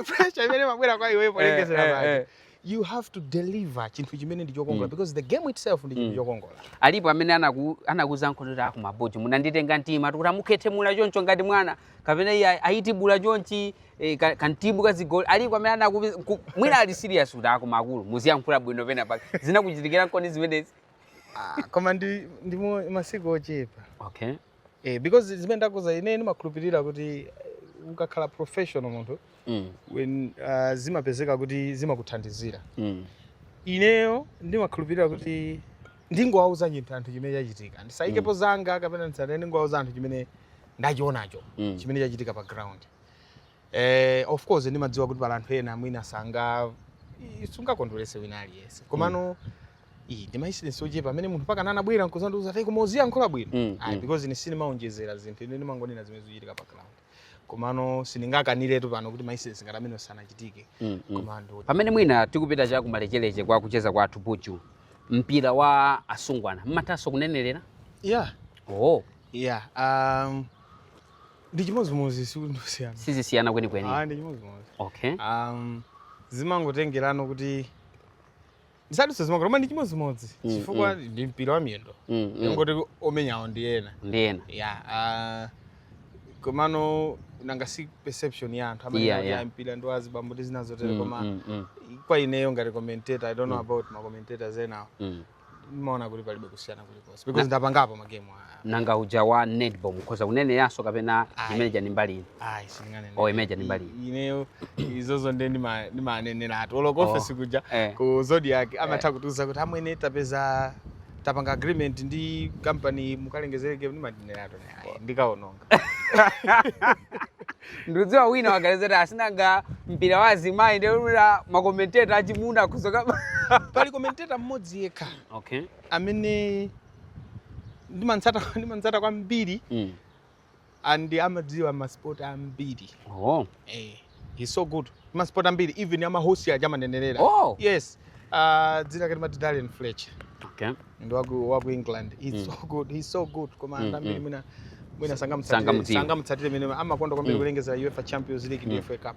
pressure imene imabwera kwa iwe polengezera eh, eh, pale eh. you have to deliver chinthu chimene ndi chokongola mm. because the game itself ndi chinthu mm. chokongola alipo amene anaku anakuza nkhonera yako mabodza munanditenga mtima tikuti amukhethe mula choncho ngati mwana kapena iye ayiti bula chonchi eh, kantimu ka zigoli alipo amene anaku mwina ali serious kuti koma akulu muziyankhula bwino penapake zinakuchitikira nkoni zimenezi ah, koma ndi ndi masiku ochepa okay Eh, because zimene ndakuuza ine ndimakhulupirira kuti eh, ukakhala professional munthu mm. when uh, zimapezeka kuti zimakuthandizira mm. ineyo ndimakhulupirira kuti ndingowauza chinthu anthu chimene chachitika ndisaikepo mm. zanga kapena ndisatene ndingowauza anthu chimene ndachionacho mm. chimene chachitika pa ground eh, of course ndimadziwa kuti pali anthu ena mwina sanga sungakondwerese wina aliyense komano mm. Iyi ndi maincidents ochepa amene munthu mpaka anabwera nkuzandiuza kuti koma uziyankhula bwino mm, ayi mm. because ine sindimaonjezera zinthu ine ndimangonena zimene zikuchitika pa ground komano sindingakaniretu pano kuti maincidents ngati amene sanachitike mm, mm. komano pamene mwina tikupita cha kumalechereche kwa kucheza kwathu Puchu mpira wa asungwana mmathanso kunenerera yeah oh yeah um ndi chimodzimodzi sikuti ndi zosiyana sizisiyana kwenikweni ah ndi chimodzimodzi okay um zimangotengerano kuti ndisadutse zimakoma koma ndi chimodzimodzi Mm, chifukwa ndi mpira wa miyendo Mm, mm. kungoti omenyawo ndi ena ndi ena ya ah, komano nanga si perception ya anthu amene Yeah, yeah, yeah. mpira ndi wa azibambo ndi zina zotero Mm, koma mm, mm, kwa ineyo ngati commentator i don't know about ma commentators enawo mm. ndimaona kuti palibe kusiyana kulikonse because ndapangapo magame ah, nanga uja wa netball mukhoza kuneneranso kapena Ayi. imeneija ndi mbali ina ayi sindinganene Oh, imeneja ndi mbali ino. ineyo izozo ndi ndima- ndimaneneratu olo ku Oh. office kuja Eh. ku zodiac amatha kutiuza kuti amwene tapeza tapanga agreement ndi company mukalengezere game ndimaneneratu ayi ndikaononga ndikudziwa wina wagalezera asinanga mpira wa azimayi ndikuti makomenteta achimuna akuthoka pali commentator mmodzi yekha okay amene ndimamtsata ndimamtsata kwambiri Mm. and amadziwa masport ambiri Oh. eh, he's so good masport ambiri even amahorse aja amanenerera Oh. yes uh, dzina lake amati Darren Fletcher Okay. ndi waku, waku England he's Mm. so good he's so good koma Mm, anthu ambiri mm. mwina mwina sangamutsatire Sangamudziwe. sangamutsatire mene amakonda kwambiri Mm. kulengeza UEFA Champions League ndi Mm. FA Cup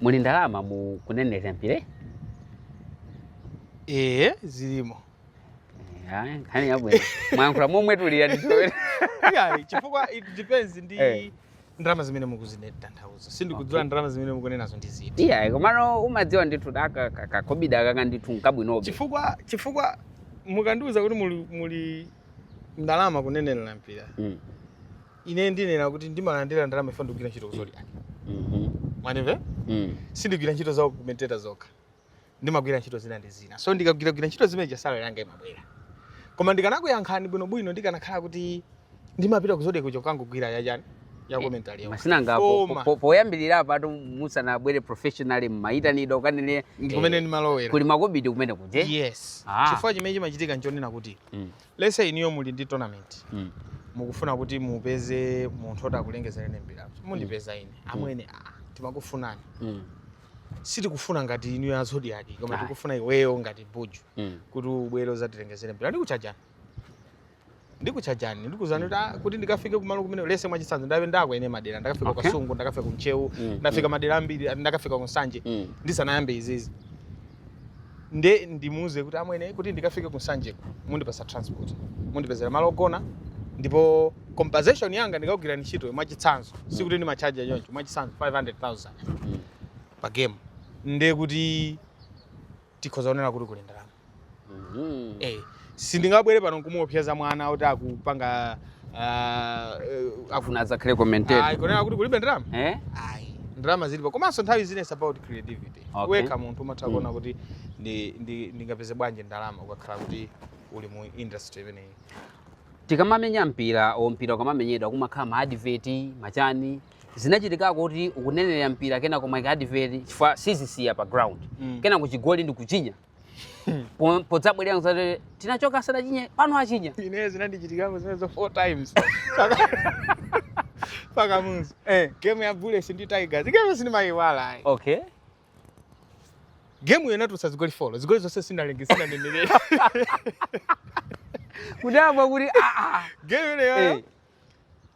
Muli ndalama mu kunenera mpira? Ee, zilimo. Ayi, nkhani yabwino. Mwayankhula momwe tilira nditowera. Iyayi, chifukwa it depends ndi Eh. ndalama zimene mukuzitanthauza. Sindikudziwa Okay. ndalama zimene mukunenazo ndi ziti. Iyayi, komano umadziwa ndithu kaka kakhobidi kaka ndithu nkabwinobe. Chifukwa chifukwa mukandiuza kuti muli muli ndalama kunenera mpira. Mm. ine ndinena kuti ndimalandira ndalama chifukwa ndikugwira ntchito ku zodiak Mhm. mwandimva Mm. sindigwira ntchito za commentator zokha ndimagwira ntchito zina ndi zina so ndikagwiragwira ntchito zimene salary yanga imabwera koma ndikanakuyankhani bwinobwino ndikanakhala kuti ndimapita ku zodiak kukangogwira yachani ya commentary yawo musananga po- Koma. po- poyambirira apatu musanabwere professionally mmayitanidwa ukanene ndikumene ndimalowera kuli makobidi kumene kuja yes Ah. chifukwa chimene chimachitika nchonena kuti Mm. lets say inuyo muli ndi tournament Mm. mukufuna kuti mupeze munthu oti akulengezereni mpira mundipeza ine amwene ah, timakufunani Mm. sitikufuna ngati inu a zodiak koma Ayi. tikufuna iweyo ngati buju Mm. kuti ubwere uzatilengezere mpira ndikuchajani ndikuchajani ndikuuzani kuti ah, kuti ndikafike kumalo kumene lets say mwachitsanzo ndayendako ine madera ndakafika Okay. ku kasungu ndakafika ku ntcheu Mm, ndafika madera ambiri ndakafika ku nsanje Mm. ndisanayambe izizi nde ndimuuza kuti amwene kuti ndikafike ku nsanjeko mundipatsa transport mundipezera malo ogona ndipo compensation yanga ndikagwira ntchito mwachitsanzo sikuti ndimachaja choncho mwachitsanzo 500000 pa game nde kuti tikhoza kunena kuti kuli ndalama Mhm. eh Sindingabwere pano nkumuopseza mwana oti akupanga uh, afuna adzakhale commentator. Ayi kunena kuti kulibe ndalama? Eh? Ayi. Ndalama zilipo. Komanso nthawi zina is about creativity. Okay. Wekha munthu umatha mm. kuona kuti ndi ndi ndingapeze bwanji ndalama ukakhala kuti uli mu industry imeneyi. Tikamamenya mpira, o mpira ukamamenyedwa kumakhala ma advert, machani zinachitikako kuti ukunenera mpira kenako ma advert chifukwa asiya pa ground mm. kenako chigoli ndi kuchinya Po- podzabwerera mwati tinachoka asadachinye pano achinya ine zinandichitikako zimenezo four times pa kamuzu eh. game ya bullets ndi tigers game sindimayiwala ayi okay game iyo inatulutsa zigoli folo zigoli zonse sinalengi sinanenerere kudabwa kuti aa game imeneyo Eh.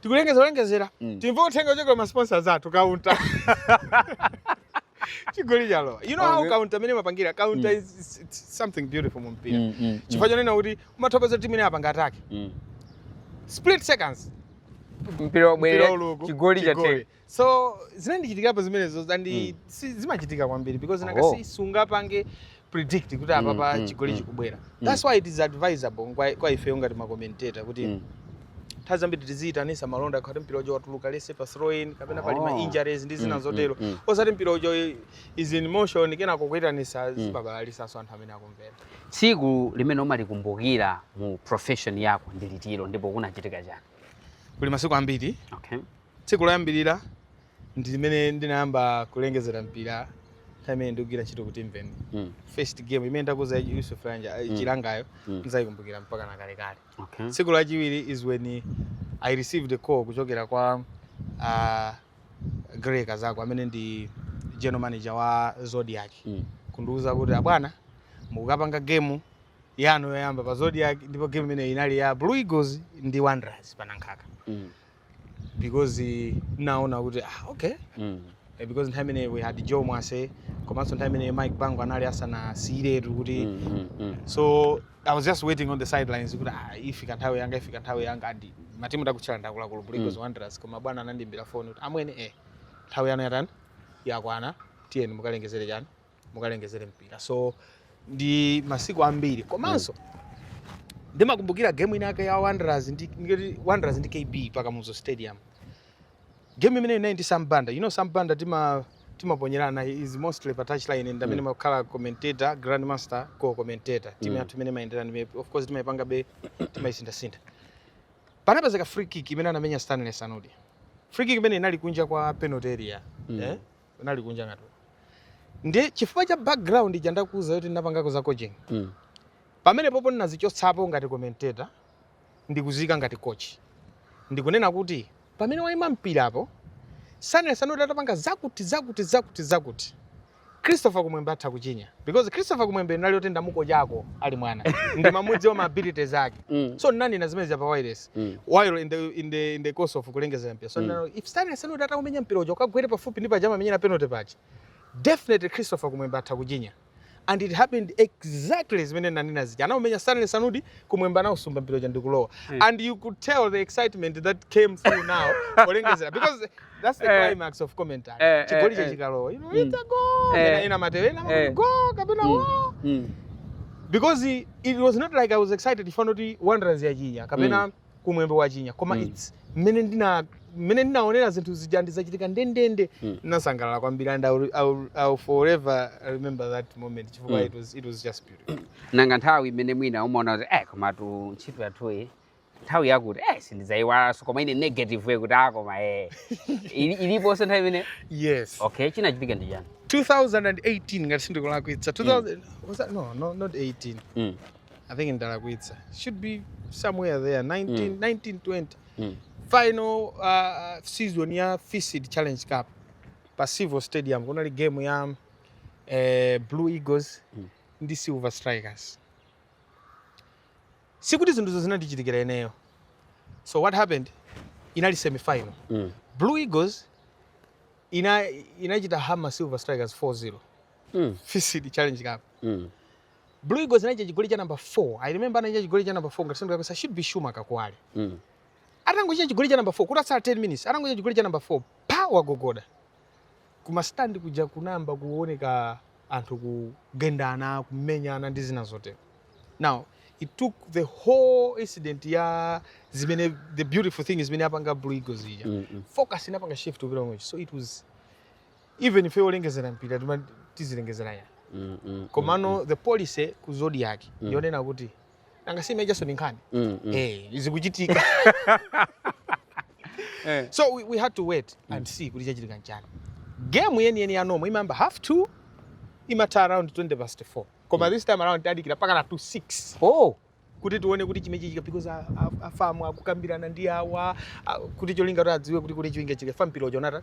tikulengeza kulengezera Mm. timve uthenga ochokera ma sponsors athu kaunta chigoli chalowa you know how Okay. kaunta imene imapangira kaunta Mm. is is- it's something beautiful mu mpira Mm, mm, chifukwa chonena kuti umathokoza timu imene yapanga atake mm. split seconds mpira Mpira wabwera uku, chigoli chigoli. chatheka so zinandichitikapo zimenezo and Mm. si- zimachitika kwambiri because nanga Oh. si sungapange predict kuti Mm, apapa mm, chigoli mm. chikubwera that's why it is advisable kwa, kwa ifeyo ngati makomenteta kuti Mm. nthawi zambiri tiziyitanisa malonda akati mpira uja watuluka let's say pa throw in kapena pali ma Oh. injuries ndi zina Mm, zotero mm, mm. osati mpira uja is in motion kenako kuyitanisa zimabalalitsanso anthu amene akumvera tsiku limene umalikumbukira mu profession yako ndi litiro ndipo kunachitika chani kuli masiku ambiri okay Tsiku loyambirira ndi limene ndinayamba kulengezera mpira nthawi imene ndikugwira ntchito ku Timveni. Mm. First game imene ndakuza ya Yusuf Lanja eh, mm. Chilangayo mm. nzayikumbukira mpaka na kale kale. Okay. Tsiku lachiwiri is when I received a call kuchokera kwa uh, Grey Kazako amene ndi general manager wa Zodiak. Mm. Kundiuza kuti abwana mukapanga game yanu yoyamba pa Zodiak ndipo game imene inali ya Blue Eagles ndi Wanderers pa Nankhaka. Mm. because naona kuti ah, okay mm. Eh, because nthawi imene we had Joe Mwase komanso nthawi imene Mike Bango anali asanasiyiretu kuti mm, mm, mm. so I was just waiting on the sidelines kuti ah, ifika nthawi yanga ifika nthawi yanga and matimu ndakutchulira akuluakulu Bullets mm. Wanderers koma bwana anandimbira phone kuti amwene eh nthawi yanu yatani yakwana tiyeni mukalengezere chani mukalengezere mpira so ndi masiku ambiri komanso ndimakumbukira game ina yake ya Wanderers ndi ngati Wanderers ndi KB pa Kamuzu Stadium game imene inali ndi Sam Banda you know Sam Banda tima timaponyerana he is mostly pa touch line ndi amene Mm. ndimakhala commentator Grandmaster co commentator timu Mm. yathu imene imayenderana ndi of course timayipangabe timayisinthasintha panapezeka free kick imene anamenya Stanley Sanudi free kick imene inali kunja kwa penalty area Mm. eh? Inali kunja ngati uko. Ndiye chifukwa cha background ija ndakuuza yoti ndinapangako za coaching. Mm. Pamene popo ndinadzichotsapo ngati commentator ndikudziika ngati coach. Ndikunena kuti pamene waima mpira apo Stanley Sanudi atapanga zakuti zakuti zakuti zakuti. Christopher Kumwembe atha kuchinya because Christopher Kumwembe anali woti ndamukochako ali mwana. Ndimamudziwa ma abilities ake. Mm. So ndinanena zimenezi pa wireless. Mm. while in the, in the, in the course of kulengezera mpira so mm. nati, if Stanley Sanudi ataumenya mpira uja ukagwere pafupi ndi paja amamenyera penalty paja definitely Christopher Kumwembe atha kuchinya and it happened exactly zimene nanena zija anaumenya Stanley Sanudi Kumwembe anausumba mpira uja ndikulowa mm. and you could tell the excitement that came through now kulengezera because That's the eh. climax of commentary. Eh, eh, Chigoli cha chikalowa. You know, it's a goal. Ena ena matewe ena matewe goal kapena mm, wo. Mm. Because it, it was not like I was excited if not Wanderers yachinya kapena mm. Kumwembe wachinya. Koma mm. it's mmene ndina mmene ndinaonera zinthu zija ndi zachitika ndendende mm. ndinasangalala kwambiri and I'll, I'll, I'll forever remember that moment chifukwa mm. it, was, it was just beautiful. Nanga nthawi imene mwina umaona kuti eh komatu ntchito yathuyi nthawi yakuti eh sindizaiwalanso koma ine negative yakuti ah koma eh Ili- iliponso nthawi imene yes okay chinachitika ndi chani 2018 ngati sindikulakwitsa 2000 was that no no not 18 Mm. i think ndalakwitsa should be somewhere there 19 Mm. 19 20 Mm. final uh, season ya FISD challenge cup pa Civo stadium kunali game ya eh, blue eagles Mm. ndi silver strikers sikuti zinthuzo zinandichitikira ineyo so what happened inali semifinal mm. blue eagles ina inachita hammer silver strikers 4-0 mm. FISD challenge cup mm. blue eagles inachinya chigoli cha number 4 i remember anachinya chigoli cha number 4 ngati sindikulakwitsa should be Schumacher Kuwali mm. atangochinya chigoli cha number 4 kutatsala 10 minutes atangochinya chigoli cha number 4 pa wagogoda Kuma stand kuja kunayamba kuoneka anthu kugendana, kumenyana ndi zina zotero. Now it took the whole incident ya zimene the beautiful thing zimene yapanga Blue Eagles ija. Mm -hmm. Focus inapanga shift kupita kumwe. So it was even ife olengezera mpira tizilengezera ya. Mm -hmm. Komano mm -hmm. the policy ku Zodiak mm -hmm. yonena kuti nanga si imene ijanso ndi nkhani Mm, mm. eh zikuchitika Eh. so we, we had to wait and see kuti chachitika nchani game yeniyeni ya normal imayamba half two imatha around 20 past 4 koma this time around tadikira mpakana to 6 Oh. kuti tione kuti chimene chichitike because a- a- a FAM akukambirana ndi awa a- kuti cholinga kuti adziwe kuti kuti chingachitike fampilocho nata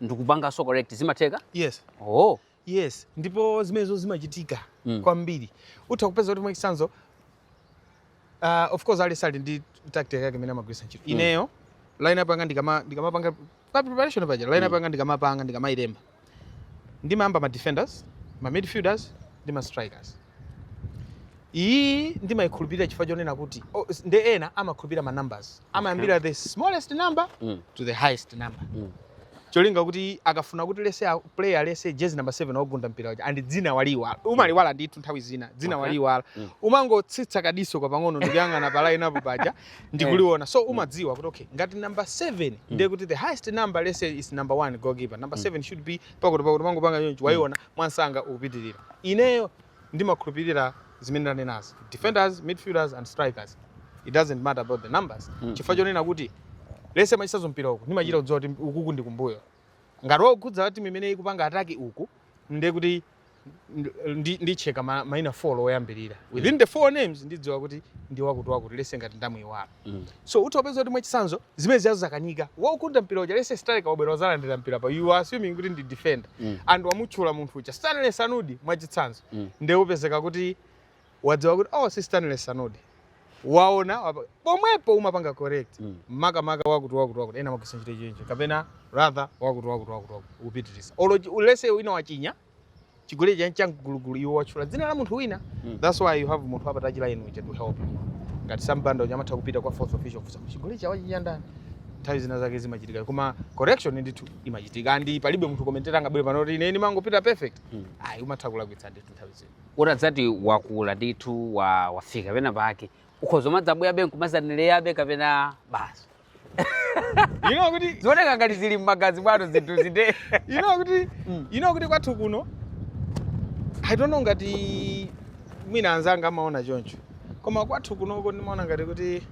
ndikupanganso correct zimatheka yes oh yes ndipo zimenezo zimachitika mm. kwambiri utha kupeza kuti mwachitsanzo uh, of course aliyense ali ndi tactic yake imene amagwiritsa ntchito mm. ineyo lineup yanga ndikama ndikamapanga pa preparation paja lineup mm. yanga ndikamapanga ndikamayilemba ndimayamba ma defenders ma midfielders ndi ma strikers Iyi ndimaikhulupirira chifukwa chonena kuti oh, nde ena amakhulupirira ma numbers amayambira okay. the smallest number mm. to the highest number mm. cholinga kuti akafuna kuti let's say player let's say jezi number 7 wagunda mpira uja and dzina waliwa umaliiwala ndithu nthawi zina dzina okay. waliiwala mm. umangotsitsa kadiso kwa pang'ono ndikuyang'ana pa line up paja ndikuliona so mm. umadziwa kuti okay ngati number 7 mm. ndiye kuti the highest number let's say is number 1 goalkeeper number 7 mm. should be pakuti pakuti umangopanga choncho waiona mm. mwamsanga ukupitilira. Ineyo ndimakhulupilira zimene ndanenazi. Defenders, midfielders and strikers it doesn't matter about the numbers chifukwa chonena kuti let's say mwachitsanzo mpira uku ndimachita kudziwa kuti ukuku ndi kumbuyo. Ngati waukhudza timu imene ikupanga attack uku ndiye kuti ndi ndicheka ma, maina 4 oyambirira. Within the four names ndidziwa kuti ndi wakuti wakuti let's say ngati ndamuiwala. Mm. So utha upeza kuti mwachitsanzo zimene zijazo zakanika. Waugunda mpira uja let's say striker wabwera wadzalandira mpira pa. You are assuming kuti ndi defender. Mm. And wamutchula munthu uja Stanley Sanudi mwachitsanzo. Mm. Ndiye upezeka kuti wadziwa kuti oh si Stanley Sanudi. Waona wapa- pomwepo umapanga correct. Mm. Makamaka wakuti wakuti wakuti ena amagwiritsa ntchito chenje kapena rather wakuti wakuti wakuti wakuti kupitiriza. Olo let's say wina wachinya chigoli cha cha mgulugulu iwo watchula dzina la munthu wina Mm. that's why you have munthu wa pa touchline uja to help you ngati Sam Banda uja amatha kupita kwa fourth official kufunsa chigoli chija wachinya ndani nthawi zina zake zimachitika koma correction ndithu imachitika and palibe munthu commentator angabwere pano kuti ine ndimangopita perfect Mm. ayi umatha kulakwitsa ndithu nthawi zina utadzati wakula ndithu wa- wafika pena pake ukhoza umadzabwerabe nkumadzanenerabe kapena basi you know kuti zioneka ngati zili mmagazi mwanu zinthuzi nde you know kuti Mm. you know kuti kwathu kuno i don't know ngati mwina anzanga amaona choncho koma kwathu kunoko ndimaona ngati kuti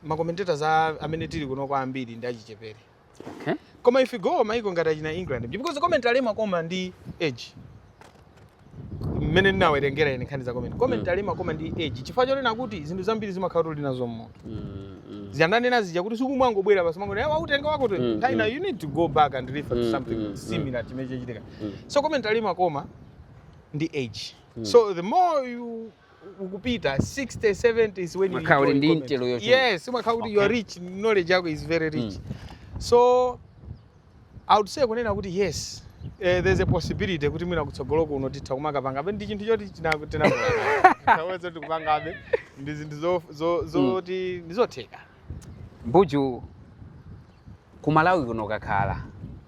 ma commentators a- amene tili kunoko ambiri ndi achichepere Okay. Koma if you go maiko ngati achina England because commentary imakoma ndi age. Mmene ndinawerengera ine nkhani za commentary. Commentary mm. imakoma ndi age. Chifukwa chonena kuti zinthu zambiri zimakhala kuti uli nazo mmutu. Mm, mm. Zija ndanena zija kuti si kumangobwera basi mwango yawa utenga wako to. Mm, Taina mm. you need to go back and refer to mm, something mm, similar mm. chimene chachitika. Mm. So commentary imakoma ndi age. Mm. So the more you ukupita 60 70 is when you Umakhala uli enjoy ndi commentary. intelo yochuluka. yes umakhala kuti you are Okay. rich knowledge yako is very rich so i would say kunena kuti yes eh, there's a possibility kuti mwina kutsogolo kuno titha kumakapangabe ndi chinthu choti china- tinakulawe zoti kupangabe ndi zinthu zo- zo- zoti ndizotheka mbuju ku malawi kuno kakhala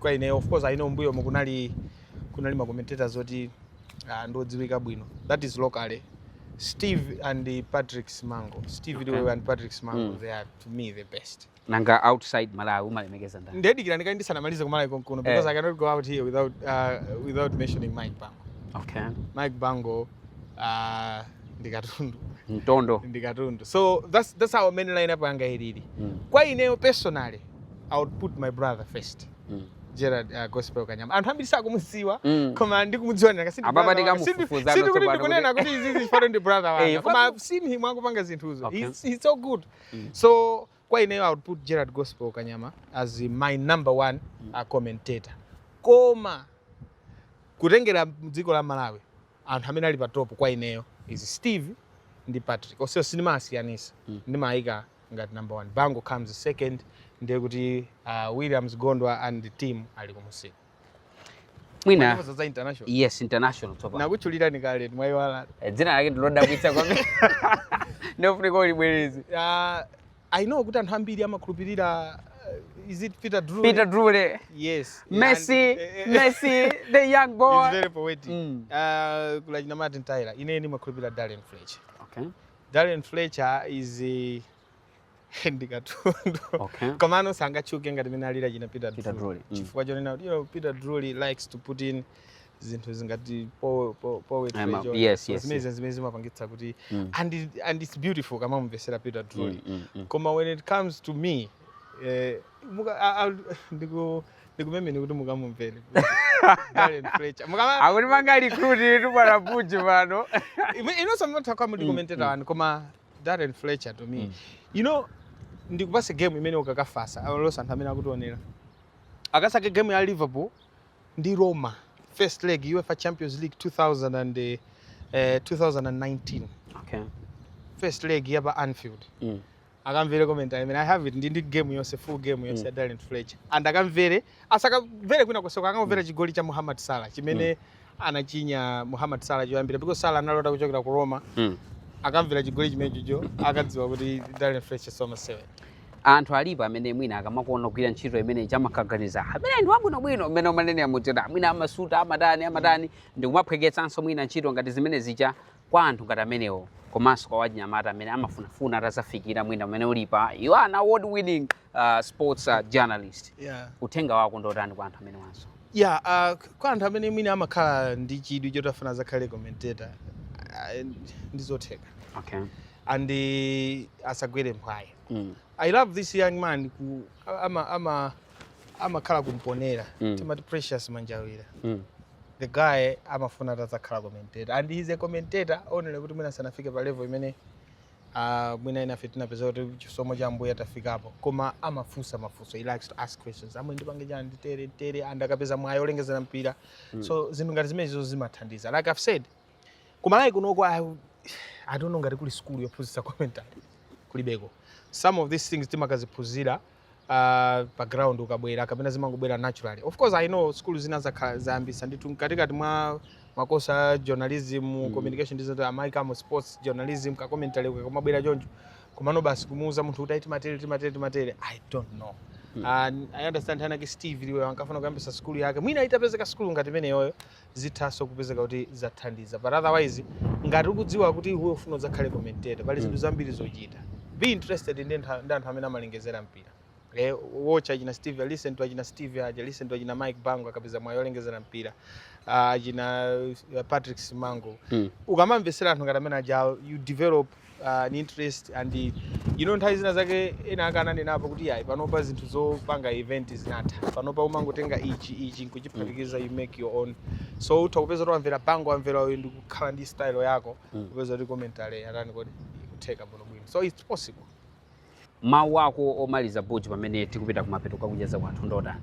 kwa ine of course i know mbuyomu kunali kunali ma commentators oti uh, ndodziwika bwino that is locally steve and patrick simango steve okay. liwewe and patrick simango mm. they are to me the best nanga outside malawi umalemekeza ndani nde dikira ndikali ndisanamalize kumalawi konkuno eh. because eh. i cannot go out here without, uh, without mentioning mike bango okay. mike bango uh, ndi katundu mtondo ndi katundu so that's, that's how mmene lineup yanga ilili mm. kwa ineyo personally I would put my brother first. Mm. Gerard uh, Gospel Kanyama. Anthu ambiri sakumudziwa mm. koma ndikumudziwa ndaka sindi Ababa brother wanga. Sindi tikamufufuza sikuti tsopano ndikunena kuti izi izi pano ndi brother Eh, wanga. Koma pano- I've seen him akupanga zinthuzo. Okay. He's, he's so good. Mm. So kwa ineyo I would put Gerard Gospel Kanyama as my number one uh, commentator. Koma kutengera dziko la Malawi anthu amene ali pa top kwa ineyo is Steve ndi Patrick. Onsewo sindimawasiyanitsa. Mm. Ndimayika ngati number one Bango comes second ndiye kuti uh, Williams Gondwa and team ali kumusiku mwina za international yes international topa ndakutchulirani kale mwaiwala eh, dzina lake ndilodabwitsa kwambiri ndiyofunika ulibwereze uh, i know kuti anthu ambiri amakhulupirira uh, is it Peter Drury? Peter Drury, eh? yes. Messi, and, eh, eh, Messi, the young boy. He's very poetic. Mm. Uh, kuli a ujeni a Martin Tyler. Ine ndimakhulupirira Darren Fletcher. Okay. Darren Fletcher is ndi katundu okay. Komano sangatchuke ngati mmene alili a ujeni a Peter, Peter Drury mm. chifukwa chonena kuti you know, Peter Drury likes to put in zinthu zangati poetry zimene zimene zimapangitsa kuti mm. and, and it's beautiful ukamamumvetsera Peter Drury mm, mm, mm. koma when it comes to me eh, muka, a, a, ndiku Ndikupempheni kuti mukamumvere. Darren Fletcher. Mukama Akuti mangorecruititu bwana Puji pano. Ime- inunso mutha kukhala muli commentator wanu koma Darren Fletcher to me. You know ndikupatse game imene ukakafatsa olonso anthu amene akutionera. Akasake game ya Liverpool ndi Roma first leg UEFA Champions League 2000 and eh, eh, 2019 Okay. first leg ya pa Anfield. Mm. akamvere commentary I mean I have it ndi ndi game yonse full game yonse mm. Darren Fletcher and akamvere asakamvere kwina konseko akamvere mm. chigoli cha Muhammad Salah chimene mm. anachinya Muhammad Salah choyambira because Salah analowa kuchokera ku Roma mm. akamvere chigoli chimenechocho akadziwa kuti Darren Fletcher samasewera anthu alipo amene mwina akamakuona kugwira ntchito imeneyija amakaganiza ameneyu ndi wabwinobwino mmene umanenera muja mwina amasuta amatani amatani mm. ndikumaphweketsanso mwina ntchito ngati zimenezija kwa anthu ngati amenewo komanso kwa achinyamata amene amafunafuna atadzafikira mwina pamene ulipa you are an award winning uh, sports uh, journalist yeah. uthenga wako ndotani kwa anthu amenewanso yeah, uh, kwa anthu amene mwina amakhala ndi chidwi choti afuna adzakhale commentator uh, ndizotheka okay. and uh, asagwere mphwayi mm. i love this young man ku, ama, ama, amakhala ku Mponela mm. timati Precious Manjawira mm. the guy amafuna atadzakhala commentator and he's a commentator only kuti mwina sanafike pa level imene uh, mwina enafe tinapeza kuti chisomo cha Ambuye tafikapo koma amafunsa mafunso he likes to ask questions amwe ndipange chani nditere tere and akapeza mwayi olengezera mpira mm. so zinthu ngati zimenezo zimathandiza like i've said ku Malawi kunoko I, i don't know ngati kuli sukulu yophunzitsa commentary kulibeko some of these things timakaziphunzira uh, pa ground ukabwera kapena zimangobwera naturally of course i know sukulu zina zakhala zayambitsa ndithu mkatikati mwa makosi a journalism mm. communication studies amaikamo sports journalism ka commentary kakamabwera choncho komano basi kumuuza munthu kuti ayi timatere timatere timatere i don't know And i understand nthawi inayake Steve Liwewe ankafuna kuyambitsa sukulu yake mwina itapezeka sukulu ngati imeneyoyo zithanso kupezeka kuti zathandiza but otherwise ngati ukudziwa kuti iwe ufuna udzakhale commentator pali zinthu mm. zambiri zochita be interested ndi anthu amene amalengezera mpira eh, watch achina Steve listen to achina Steve aja listen to achina Mike Bango akapeza mwayi wolengezera mpira ah, achina uh, Patrick Simango mm. ukamamvetsera anthu ngati amene aja you develop uh, an interest and you know nthawi zina zake enaake ananenapo kuti yayi panopa zinthu zopanga invent zinatha panopa umangotenga ichi ichi nkuchiphatikiza you make your own so utha kupeza kuti wamvera bango wamvera uyu n'kukhala ndi style yako kupeza kuti commentary yatani kodi ikutheka bwinobwino so it's possible mawu ako omaliza buju pamene tikupita kumapeto kwa kucheza kwathu ndotani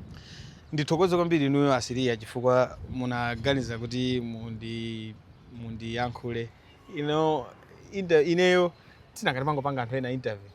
ndithokoze kwambiri inuyo asiriya chifukwa munaganiza kuti mundi mundiyankhule you know inter, ineyo ndimakhala ngati ndimangopanga anthu ena interview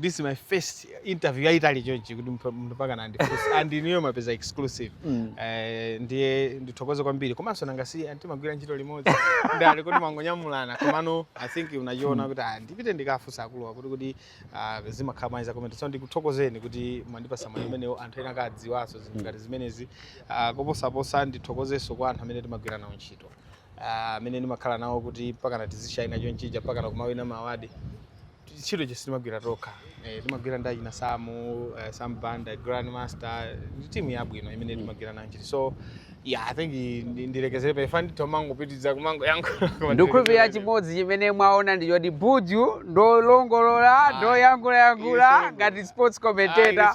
this is my first interview yayitali chonchi kuti munthu munthu mpaka kundifunsa and inuyo mwapeza exclusive Mm. Eh, ndiye ndithokoze kwambiri komanso nanga si anthu timagwira ntchito limodzi ndi ali kuti timangonyamulana komano i think munachiona kuti ah, ndipite ndikafunse akuluwa kuti kuti ah, zimakhala bwanji za commentary so ndikuthokozeni kuti mwandipatsa mwayi umenewo anthu ena akadziwenso zinthu ngati zimenezi Ah, koposaposa ndithokozenso kwa anthu amene timagwira nawo ntchito ah, amene uh, ndimakhala nawo kuti mpakana tizishaina chonchija mpakana kumawina ma award ntchito zija sitimagwira tokha eh, timagwira ndi achina samu uh, eh, sam banda grandmaster ndi timu yabwino imene mm. timagwira nayo ntchito so yeah i think ndilekezere apa ife nditha kumangopitiriza kumangoyankhula ndikukhulupirira chimodzi chimene mwaona ndi choti Buju ndolongolola ah. ndoyankhulayankhula ngati sports commentator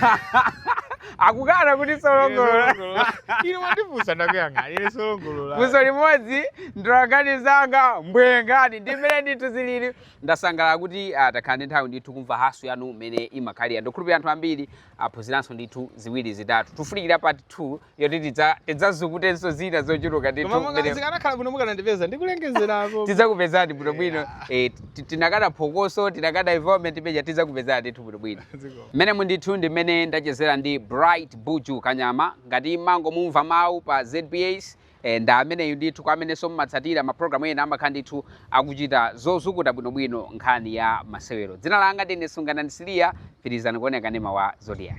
ah, akukana kuti solongolola ine mwandifunsa ndakuyankhani ine solongolola funso limodzi ndi wokanika zake n'bwerengani ndi mmene ndithu zilili ndasangalala kuti ah, takhala ndi nthawi ndithu kumva haso yanu mmene imakhalira ndikhulupirira anthu ambiri aphunziranso ndithu ziwiri zitatu tifunikira part 2 yoti tidza- tidzazukutenso zina zochuluka ndithu koma mmene- zikanakhala bwino mukanandipeza ndikulengezerako tidzakupezani bwinobwino Eh, ti- tinakada phokoso tinakada environment peja tidzakupezani ndithu bwinobwino Mmenemu ndithu ndi mmene ndachezera ndi Bright Buju Kanyama, ngati mmangomumva mawu pa ZBS, eh, ndi ameneyu ndithu. Kwa amenenso mmatsatira ma program ena amakhala ndithu akuchita zozukuta bwinobwino nkhani ya masewero. Dzina langa ndine Sunganani Siliya, pitirizani kuonera kanema wa Zodiak.